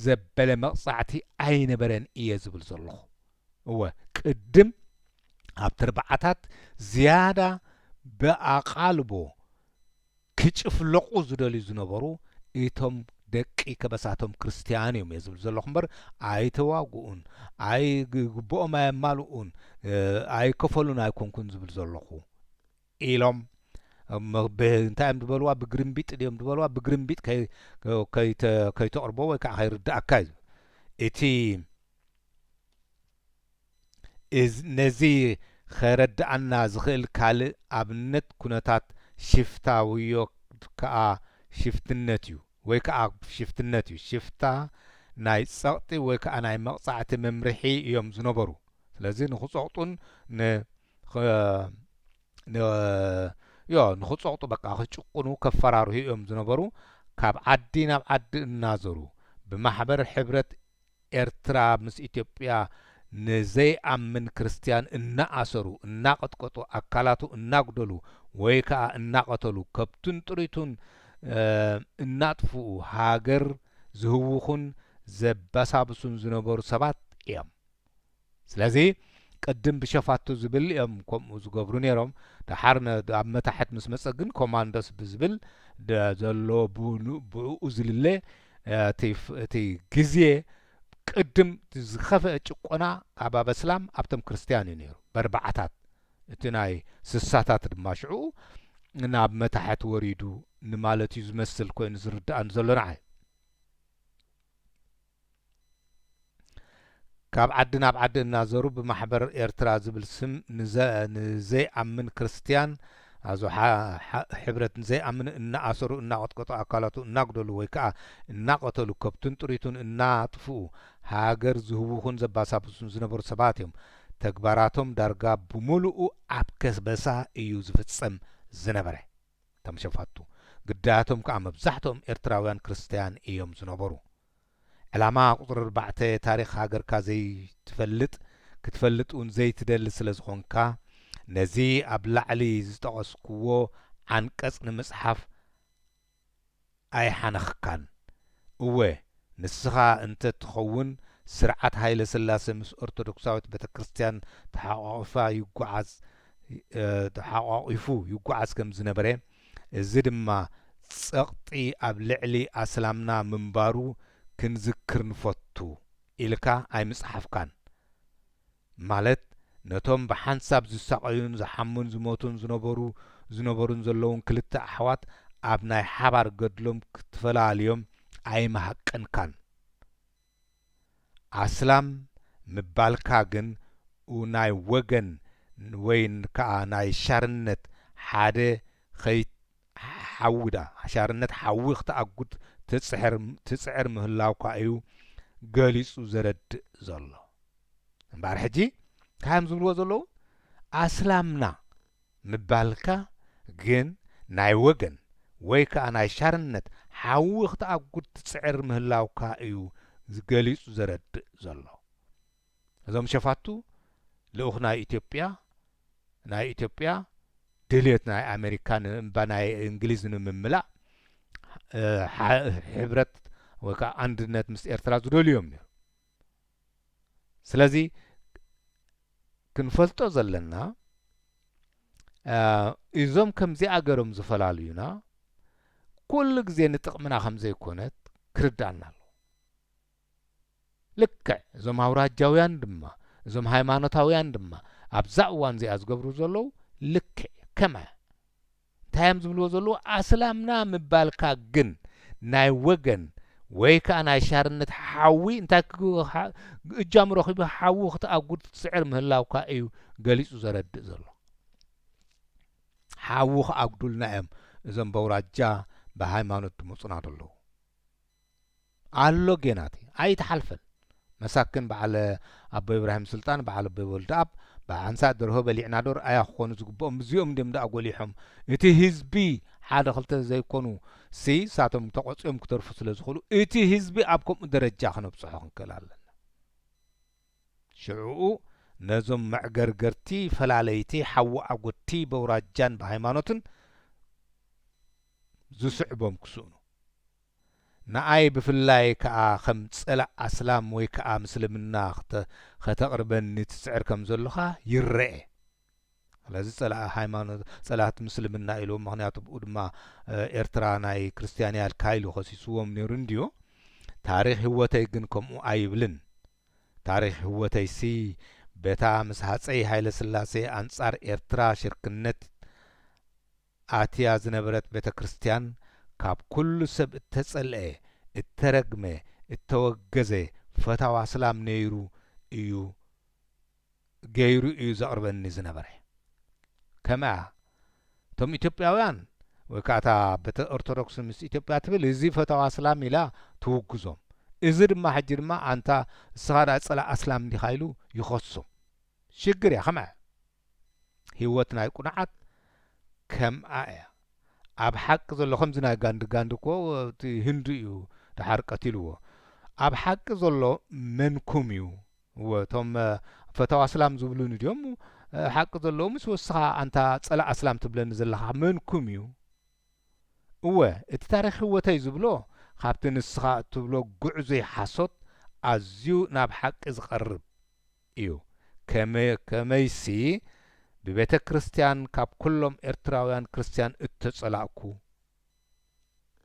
ዘበለ መቕጻዕቲ ኣይነበረን እየ ዝብል ዘለኹ። እወ፣ ቅድም ኣብቲ ኣርብዓታት ዝያዳ ብኣቓልቦ፣ ክጭፍለቑ ዝደልዩ ዝነበሩ እቶም ደቂ ከበሳቶም ክርስትያን እዮም እየ ዝብል ዘለኹ እምበር ኣይተዋግኡን ኣይ ግቡኦም ኣየማልኡን ኣይከፈሉን ኣይኮንኩን ዝብል ዘለኹ ኢሎም እንታይ እዮም ዝበልዋ ብግርምቢጥ ድዮም ዝበልዋ ብግርምቢጥ ከይተቕርቦ ወይ ከዓ ከይርዳእካ እዩ እቲ ነዚ ኼረድኣና ዚኽእል ካልእ ኣብነት፣ ኵነታት ሽፍታ ውዮ ከኣ ሽፍትነት'ዩ ወይ ከኣ ሽፍትነት'ዩ። ሽፍታ ናይ ጸቕጢ ወይ ከኣ ናይ መቕጻዕቲ መምርሒ እዮም ዝነበሩ። ስለዚ ንኽጸቕጡን ን ን ን ንኽጸቕጡ በቃ ክጭቁኑ ከፈራርሁ እዮም ዝነበሩ። ካብ ዓዲ ናብ ዓዲ እናዞሩ ብማሕበር ሕብረት ኤርትራ ምስ ኢትዮጵያ ንዘይኣምን ክርስትያን እናኣሰሩ፣ እናቐጥቀጡ፣ ኣካላቱ እናጉደሉ ወይ ከኣ እናቐተሉ፣ ከብቱን ጥሪቱን እናጥፍኡ ሃገር ዝህውኹን ዘበሳብሱን ዝነበሩ ሰባት እዮም። ስለዚ ቅድም ብሸፋቱ ዝብል እዮም ከምኡ ዝገብሩ ነይሮም ደሓር ኣብ መታሕት ምስ መጸ ግን ኮማንዶስ ብዝብል ዘሎ ብኡ ዝልለ እቲ ግዜ ቅድም ዝኸፍአ ጭቆና ካብ ኣበስላም ኣብቶም ክርስትያን እዩ ነይሩ በርባዓታት እቲ ናይ ስሳታት ድማ ሽዑ ናብ መታሕት ወሪዱ ንማለት እዩ ዝመስል ኮይኑ ዝርዳኣን ዘሎ ንዓይ ካብ ዓዲ ናብ ዓዲ እናዘሩ ብማሕበር ኤርትራ ዝብል ስም ንዘይኣምን ክርስትያን ኣዞ ሕብረት ንዘይኣምን እናኣሰሩ እናቐጥቀጡ ኣካላቱ እናጉደሉ ወይ ከዓ እናቐተሉ ከብቱን ጥሪቱን እናጥፍኡ ሃገር ዝህውኹን ዘባሳብሱን ዝነበሩ ሰባት እዮም። ተግባራቶም ዳርጋ ብምሉኡ ኣብ ከበሳ እዩ ዝፍፀም ዝነበረ። እቶም ሸፋቱ ግዳያቶም ከኣ መብዛሕትኦም ኤርትራውያን ክርስታያን እዮም ዝነበሩ። ዕላማ ቁጽሪ ኣርባዕተ ታሪኽ ሃገርካ ዘይትፈልጥ ክትፈልጥ ውን ዘይትደሊ ስለ ዝኾንካ ነዚ ኣብ ላዕሊ ዝጠቐስኩዎ ዓንቀጽ ንምጽሓፍ ኣይሓነኽካን። እወ ንስኻ እንተ ትኸውን ስርዓት ሃይለ ስላሰ ምስ ኦርቶዶክሳዊት ቤተክርስትያን ተሓቋቒፋ ይጓዓዝ ተሓቋቒፉ ይጓዓዝ ከም ዝነበረ እዚ ድማ ጸቕጢ ኣብ ልዕሊ ኣስላምና ምንባሩ ክንዝክር ንፈቱ ኢልካ ኣይምጸሓፍካን ማለት ነቶም ብሓንሳብ ዝሳቐዩን ዝሓሙን ዝሞቱን ዝነበሩ ዝነበሩን ዘለዉን ክልተ ኣሕዋት ኣብ ናይ ሓባር ገድሎም ክትፈላልዮም ኣይምሃቀንካን። ኣስላም ምባልካ ግን ኡናይ ወገን ወይ ከኣ ናይ ሻርነት ሓደ ኸይት ሓዊ ድኣ ሻርነት ሓዊ ክትኣጉድ ትጽሕር ትጽዕር ምህላውካ እዩ ገሊጹ ዘረድእ ዘሎ። እምበኣር ሕጂ እንታዮም ዝብልዎ ዘለዉ ኣስላምና ምባልካ ግን ናይ ወገን ወይ ከኣ ናይ ሻርነት ሓዊ ክትኣጉድ ትጽዕር ምህላውካ እዩ ገሊጹ ዘረድእ ዘሎ እዞም ሸፋቱ ልኡኽ ናይ ኢትዮጵያ ናይ ኢትዮጵያ ድልየት ናይ ኣሜሪካ ንእምባ ናይ እንግሊዝ ንምምላእ ሕብረት ወይ ከኣ ኣንድነት ምስ ኤርትራ ዝደልዩ እዮም ነይሩ ስለዚ ክንፈልጦ ዘለና እዞም ከምዚኣ ገሮም ዝፈላልዩና ኩሉ ግዜ ንጥቕምና ከም ዘይኮነት ክርድኣና ኣሎ ልክዕ እዞም ኣውራጃውያን ድማ እዞም ሃይማኖታውያን ድማ ኣብዛ እዋን እዚኣ ዝገብሩ ዘለዉ ልክዕ ከመ እንታይ እዮም ዝብልዎ ዘለዉ ኣስላምና ምባልካ ግን ናይ ወገን ወይ ከኣ ናይ ሻርነት ሓዊ እንታይ እጃሙ ረኺቡ ሓዊ ክትኣጉድ ትጽዕር ምህላውካ እዩ ገሊጹ ዘረድእ ዘሎ። ሓዊ ክኣጉዱልና እዮም እዞም በውራጃ ብሃይማኖት ድመጹና ደለዉ። ኣሎ ጌናቲ ኣይትሓልፈን መሳኪን በዓል ኣቦይ እብራሂም ሱልጣን በዓል ኣቦይ ወልደኣብ በዓል ሓንሳእ ደርሆ በሊዕና ዶር ኣያ ክኮኑ ዝግብኦም እዚኦም እንድዮም ደኣ ጎሊሖም እቲ ህዝቢ ሓደ ክልተ ተዘይኮኑ ሲ ሳቶም ተቆጽዮም ክተርፉ ስለ ዝክእሉ እቲ ህዝቢ ኣብ ከምኡ ደረጃ ክነብጽሖ ክንክእል ኣለና ሽዑኡ ነዞም መዕገርገርቲ ፈላለይቲ ሓዊ ኣጎድቲ በውራጃን ብሃይማኖትን ዝስዕቦም ክስእኑ ንኣይ ብፍላይ ከኣ ከም ጸላእ ኣስላም ወይ ከኣ ምስልምና ከተቕርበኒ ትጽዕር ከም ዘሎኻ ይረኤ ስለዚ ጸላእ ሃይማኖት ጸላእት ምስልምና ኢልዎም ምኽንያቱ ብኡ ድማ ኤርትራ ናይ ክርስትያን እያ ኢልካ ኢሉ ከሲስዎም ነይሩ እንድዩ ታሪኽ ህወተይ ግን ከምኡ ኣይብልን ታሪኽ ህወተይሲ በታ ምስ ሃጸይ ሃይለስላሴ ኣንጻር ኤርትራ ሽርክነት ኣትያ ዝነበረት ቤተ ክርስቲያን ካብ ኩሉ ሰብ እተጸልኤ እተረግመ እተወገዘ ፈታው ኣስላም ነይሩ እዩ ገይሩ እዩ ዘቕርበኒ ዝነበረ ከምኣ እቶም ኢትዮጵያውያን ወይ ከኣ እታ ቤተ ኦርቶዶክስ ምስ ኢትዮጵያ ትብል እዚ ፈታው ኣስላም ኢላ ትውግዞም እዚ ድማ ሕጂ ድማ ኣንታ እስኻ ድኣ ጸላእ ኣስላም ዲኻ ኢሉ ይኸሶም ሽግር እያ ከምኣ ሂወት ናይ ቁኑዓት ከምኣ እያ ኣብ ሓቂ ዘሎ ከምዚ ናይ ጋንዲ ጋንዲ እኮ እቲ ህንዱ እዩ ደሓር ቀቲልዎ ኣብ ሓቂ ዘሎ መንኩም እዩ እወ እቶም ፈታው ኣስላም ዝብሉኒ ድዮም ሓቂ ዘለዎምስ ወስኻ ኣንታ ጸላእ ኣስላም ትብለኒ ዘለኻ መንኩም እዩ እወ እቲ ታሪኽ ህወተይ ዝብሎ ካብቲ ንስኻ እትብሎ ጉዕዙይ ሓሶት ኣዝዩ ናብ ሓቂ ዝቐርብ እዩ ከመይሲ ብቤተ ክርስትያን ካብ ኩሎም ኤርትራውያን ክርስትያን እተጸላእኩ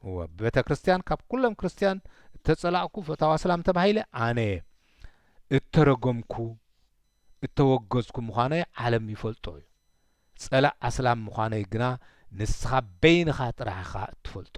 እወ ብቤተ ክርስትያን ካብ ኩሎም ክርስትያን እተጸላእኩ ፈታዋ ሰላም ተባሂለ ኣነየ እተረገምኩ እተወገዝኩ ምዃነይ ዓለም ይፈልጦ እዩ ጸላእ ኣስላም ምዃነይ ግና ንስኻ በይንኻ ጥራሕ ኢኻ እትፈልጦ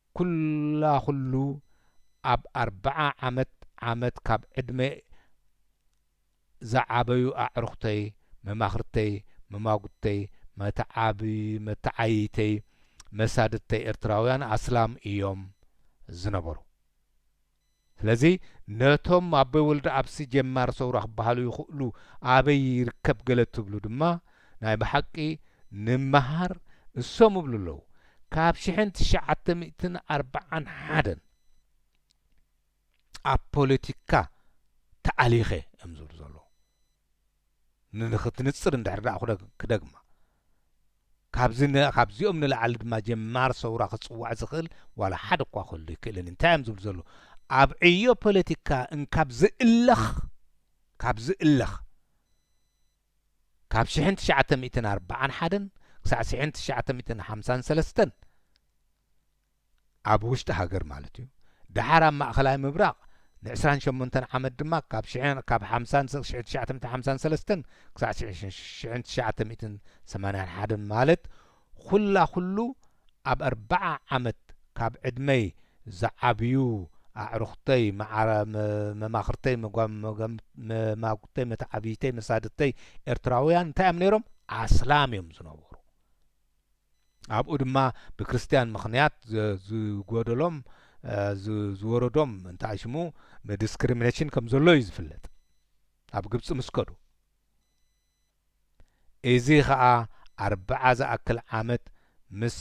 ኩላ ኩሉ ኣብ ኣርብዓ ዓመት ዓመት ካብ ዕድመይ ዝዓበዩ ኣዕሩኽተይ፣ መማኽርተይ፣ መማጉተይ፣ መተዓብይተይ፣ መሳድድተይ ኤርትራውያን ኣስላም ኢዮም ዝነበሩ። ስለዚ ነቶም ኣቦይ ወልደኣብሲ ጀማሪ ሰውራ ክበሃሉ ይኽእሉ ኣበይ ይርከብ ገለ ትብሉ ድማ ናይ ብሓቂ ንመሃር እሶም እብሉ ኣለዉ ካብ ሽሕን ትሽዓተ ሚእትን ኣርብዓን ሓደን ኣብ ፖለቲካ ተኣሊኸ እዮም ዝብሉ ዘለዉ ንንክትንጽር እንድሕር ክደግማ ካብዚካብዚኦም ንላዕሊ ድማ ጀማር ሰውራ ክጽዋዕ ዝኽእል ዋላ ሓደ እኳ ክህሉ ኣይክእልን። እንታይ እዮም ዝብሉ ዘለዉ? ኣብ ዕዮ ፖለቲካ እንካብ ዝእለኽ ካብ ዝእለኽ ካብ ሽሕን ትሽዓተ ሚእትን ኣርብዓን ሓደን ክሳዕ ሽሕን ትሽዓተ ሚእትን ሓምሳን ሰለስተን ኣብ ውሽጢ ሃገር ማለት እዩ፣ ደሓር ኣብ ማእኸላይ ምብራቕ ንዕስራን ሸሞንተን ዓመት ድማ ካብ ሽሕ ካብ ሓምሳን ስቕ ሽሕ ትሽዓተ ሚእቲ ሓምሳን ሰለስተን ክሳዕ ሽሕ ሽሕን ትሽዓተ ሚእትን ሰማንያን ሓደን ማለት ኹላ ኹሉ ኣብ ኣርባዓ ዓመት ካብ ዕድመይ ዝዓብዩ ኣዕሩኽተይ መዓረ መማኽርተይ መጓምመጓምመማጉተይ መተዓብይተይ መሳድተይ ኤርትራውያን እንታይ እዮም ነይሮም? ኣስላም እዮም ዝነበሩ። ኣብኡ ድማ ብክርስትያን ምኽንያት ዝጎደሎም ዝወረዶም እንታይ ሽሙ ዲስክሪሚነሽን ከም ዘሎ እዩ ዝፍለጥ ኣብ ግብፂ ምስ ከዱ እዚ ኸዓ ኣርብዓ ዝኣክል ዓመት ምስ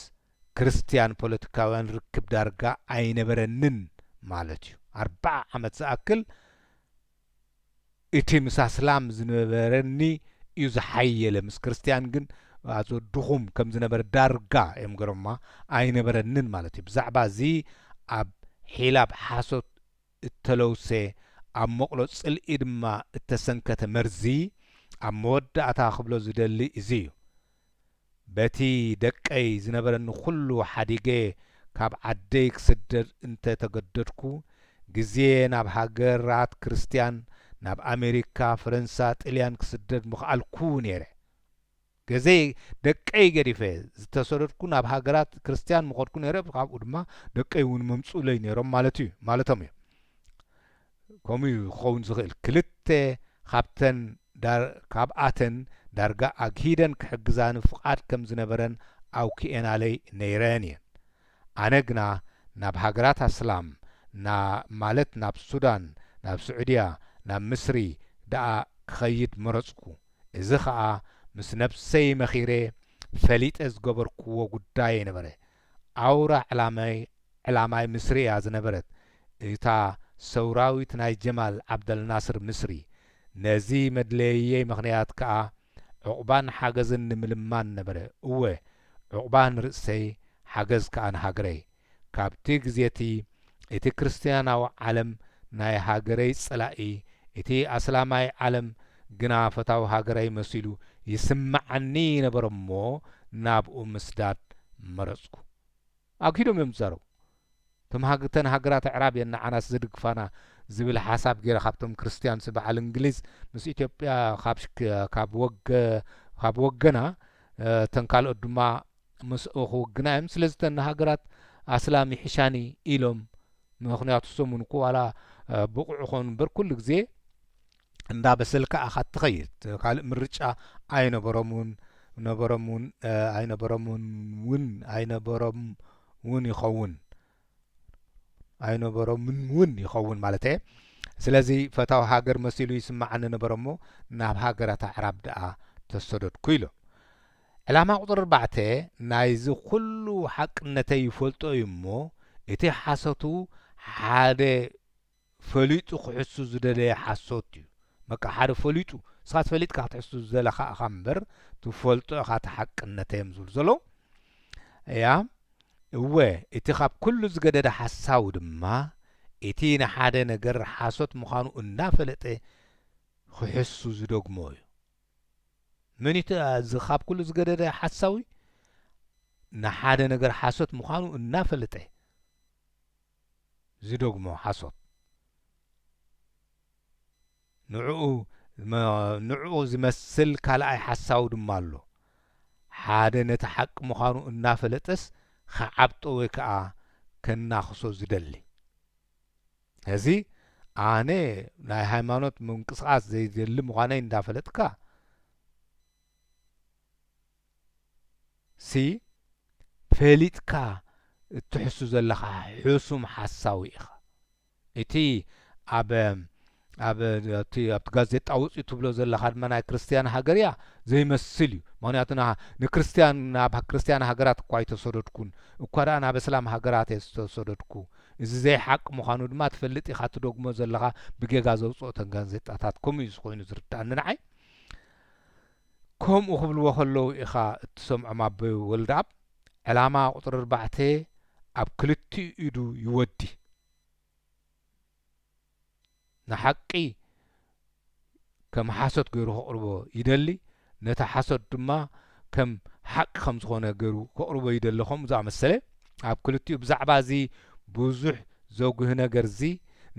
ክርስትያን ፖለቲካውያን ርክብ ዳርጋ ኣይነበረንን ማለት እዩ ኣርብዓ ዓመት ዝኣክል እቲ ምስ ኣስላም ዝነበረኒ ዩ ዝሓየለ ምስ ክርስትያን ግን ኣዞ ድኹም ከም ዝነበረ ዳርጋ ዮም ገሮማ ኣይነበረንን ማለት ዩ ብዛዕባ እዚ ኣብ ሒላብ ሓሶት እተለውሰ ኣብ ሞቕሎ ጽልኢ ድማ እተሰንከተ መርዚ ኣብ መወዳእታ ክብሎ ዝደሊ እዚ ዩ በቲ ደቀይ ዝነበረኒ ኩሉ ሓዲገ ካብ ዓደይ ክስደድ እንተ ተገደድኩ፣ ግዜ ናብ ሃገራት ክርስትያን፣ ናብ ኣመሪካ፣ ፈረንሳ፣ ጥልያን ክስደድ ምኸኣልኩ ነይረ። ገዜ ደቀይ ገዲፈ ዝተሰደድኩ ናብ ሃገራት ክርስትያን ምኸድኩ ነይረ፣ ካብኡ ድማ ደቀይ እውን ምምጽኡለይ ነይሮም ማለቶም እዩ። ከምኡ'ዩ ክኸውን ዝኽእል፣ ክልተ ካብኣተን ዳርጋ ኣግሂደን ክሕግዛኒ ፍቓድ ከም ዝነበረን ኣውኪኤናለይ ነይረን እየን። ኣነ ግና ናብ ሃገራት ኣስላም፣ ማለት ናብ ሱዳን፣ ናብ ስዑድያ፣ ናብ ምስሪ ደኣ ክኸይድ መረጽኩ። እዚ ኸኣ ምስ ነብሰይ መኺረ ፈሊጠ ዝገበርክዎ ጉዳየይ ነበረ። ኣውራ ዕላማይ ዕላማይ ምስሪ እያ ዝነበረት እታ ሰውራዊት ናይ ጀማል ዓብደልናስር ምስሪ። ነዚ መድለይየይ ምኽንያት ከኣ ዑቕባን ሓገዝን ንምልማን ነበረ፣ እወ ዑቕባ ንርእሰይ ሓገዝ ከኣ ንሃገረይ። ካብቲ ግዜቲ እቲ ክርስትያናዊ ዓለም ናይ ሃገረይ ጸላኢ እቲ ኣስላማይ ዓለም ግና ፈታዊ ሃገረይ መሲሉ ይስመዓኒ ነበረ እሞ ናብኡ ምስዳድ መረጽኩ። ኣግሂዶም እዮም ዝዛረቡ። እቶም ሃግ እተን ሃገራት ኣዕራብ እየን ንዓናስ ዝድግፋና ዝብል ሓሳብ ገይረ ካብቶም ክርስትያንሲ በዓል እንግሊዝ ምስ ኢትዮጵያ ካብ ካብ ወገ ካብ ወገና እተን ካልኦት ድማ ምስ እኹ ግና እዮም ስለዚ እተን ሃገራት ኣስላም ይሕሻኒ ኢሎም ምኽንያቱ እሶም እውን እኮ ዋላ ብቑዕ ኾኑ እምበር ኩሉ ግዜ እንዳ በሰልካ ኣኻ ትኸይድ ካልእ ምርጫ ኣይነበሮምን ነበሮምን ኣይነበሮምን እውን ኣይነበሮም እውን ይኸውን ኣይነበሮምን እውን ይኸውን ማለት እየ ስለዚ ፈታዊ ሃገር መሲሉ ይስማዓኒ ነበረ እሞ ናብ ሃገራት ኣዕራብ ደኣ ተሰደድኩ ኢሉ ዕላማ ቁፅሪ ኣርባዕተ ናይዚ ኩሉ ሓቅነተይ ይፈልጦ እዩ እሞ እቲ ሓሶቱ ሓደ ፈሊጡ ክሕሱ ዝደለየ ሓሶት እዩ በቃ ሓደ ፈሊጡ ንስካ ፈሊጥካ ክትሕሱ ዝደለካ እካ እምበር ትፈልጦ እካ እቲ ሓቅነተ እዮም ዝብሉ ዘለዉ እያ እወ እቲ ካብ ኩሉ ዝገደደ ሓሳዊ ድማ እቲ ንሓደ ነገር ሓሶት ምኳኑ እንዳፈለጠ ክሕሱ ዝደግሞ እዩ መን እቲ እዚ ካብ ኩሉ ዝገደደ ሓሳዊ ንሓደ ነገር ሓሶት ምኳኑ እናፈለጠ ዝደግሞ ሓሶት ንዕኡ ንዕኡ ዝመስል ካልኣይ ሓሳዊ ድማ ኣሎ ሓደ ነቲ ሓቂ ምዃኑ እናፈለጠስ ክዓብጦ ወይ ከኣ ከናኽሶ ዝደሊ ሕዚ ኣነ ናይ ሃይማኖት ምንቅስቃስ ዘይደሊ ምዃነይ እንዳፈለጥካ ሲ ፈሊጥካ እትሕሱ ዘለኻ ሕሱም ሓሳዊ ኢኻ እቲ ኣብ ኣብ ኣብቲ ኣብቲ ጋዜጣ ወጽዩ ትብሎ ዘለኻ ድማ ናይ ክርስትያን ሃገር እያ ዘይመስል እዩ ምክንያቱ ንክርስትያን ናብ ክርስትያን ሃገራት እኳ ኣይተሰደድኩን እኳ ደኣ ናብ እስላም ሃገራት እየ ዝተሰደድኩ እዚ ዘይሓቂ ምዃኑ ድማ ትፈልጥ ኢኻ ትደግሞ ዘለኻ ብጌጋ ዘውጽኦ ተን ጋዜጣታት ከምኡ እዩ ኮይኑ ዝርድኣኒ ንዓይ ከምኡ ክብልዎ ከለዉ ኢኻ እትሰምዖም ኣቦይ ወልደኣብ ዕላማ ቁጽሪ ኣርባዕተ ኣብ ክልቲኡ ኢዱ ይወዲ ንሓቂ ከም ሓሶት ገሩ ከቕርቦ ይደሊ ነቲ ሓሶት ድማ ከም ሓቂ ከም ዝኾነ ገሩ ከቕርቦ ይደሊ ከምኡ ዝኣመሰለ ኣብ ክልቲኡ ብዛዕባ እዚ ብዙሕ ዘጉሂ ነገርዚ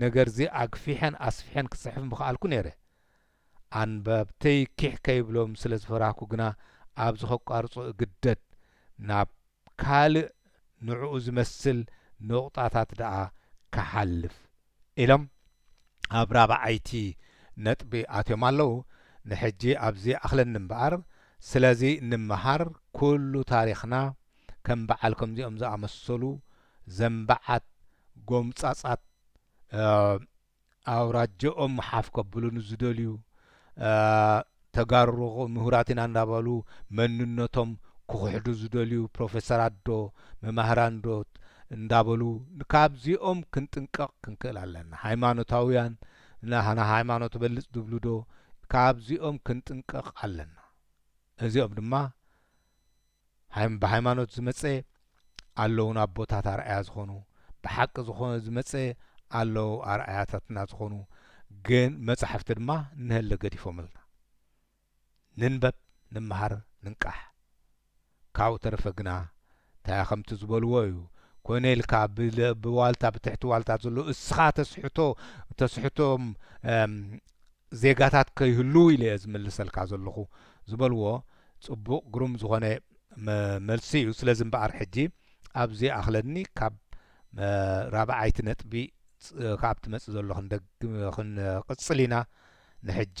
ነገርዚ ኣግፊሐን ኣስፊሐን ክጽሕፍ ምኸኣልኩ ኔረ ኣንበብተይ ኪሕ ከይብሎም ስለ ዝፈራህኩ ግና ኣብዚ ከቋርጾ እግደድ። ናብ ካልእ ንዕኡ ዝመስል ንቑጣታት ደኣ ክሓልፍ። ኢሎም ኣብ ራብዓይቲ ነጥቢ ኣትዮም ኣለዉ። ንሕጂ ኣብዚ ይኣኽለኒ እምበኣር፣ ስለዚ ንምሃር ኩሉ ታሪኽና ከም በዓል ከምዚኦም ዝኣመሰሉ ዘንበዓት ጎምጻጻት፣ ኣውራጀኦም ሓፍ ከብሉ ንዝደልዩ ተጋሩ ምሁራት ኢና እንዳበሉ መንነቶም ክኽሕዱ ዝደልዩ ፕሮፌሰራት ዶ መማህራን ዶ እንዳበሉ ካብዚኦም ክንጥንቀቕ ክንክእል ኣለና። ሃይማኖታውያን ናህና ሃይማኖት ትበልጽ ዝብሉ ዶ ካብዚኦም ክንጥንቀቕ ኣለና። እዚኦም ድማ ሃይም ብሃይማኖት ዝመጸ ኣለዉ ናቦታት ኣርኣያ ዝኾኑ ብሓቂ ዝኾነ ዝመጸ ኣለዉ ኣርኣያታትና ዝኾኑ ግን መጻሕፍቲ ድማ ንሀለ ገዲፎምልና ንንበብ ንመሃር ንንቃሕ ካብኡ ተረፈ ግና ታያ ከምቲ ዝበልዎ እዩ ኮይነ ኢልካ ብዋልታ ብትሕቲ ዋልታ ዘሎ እስኻ ተስሕቶ ተስሕቶም ዜጋታት ከይህልዉ ኢለ'የ ዝምልሰልካ ዘለኹ ዝበልዎ ጽቡቕ ግሩም ዝኾነ መልሲ'ዩ። ስለዚ እምበኣር ሕጂ ኣብዚ ይኣኽለኒ ካብ ራብዓይቲ ነጥቢ ክኣ ትመጽእ ዘሎ ክንደግም ክንቕጽል ኢና ንሕጂ።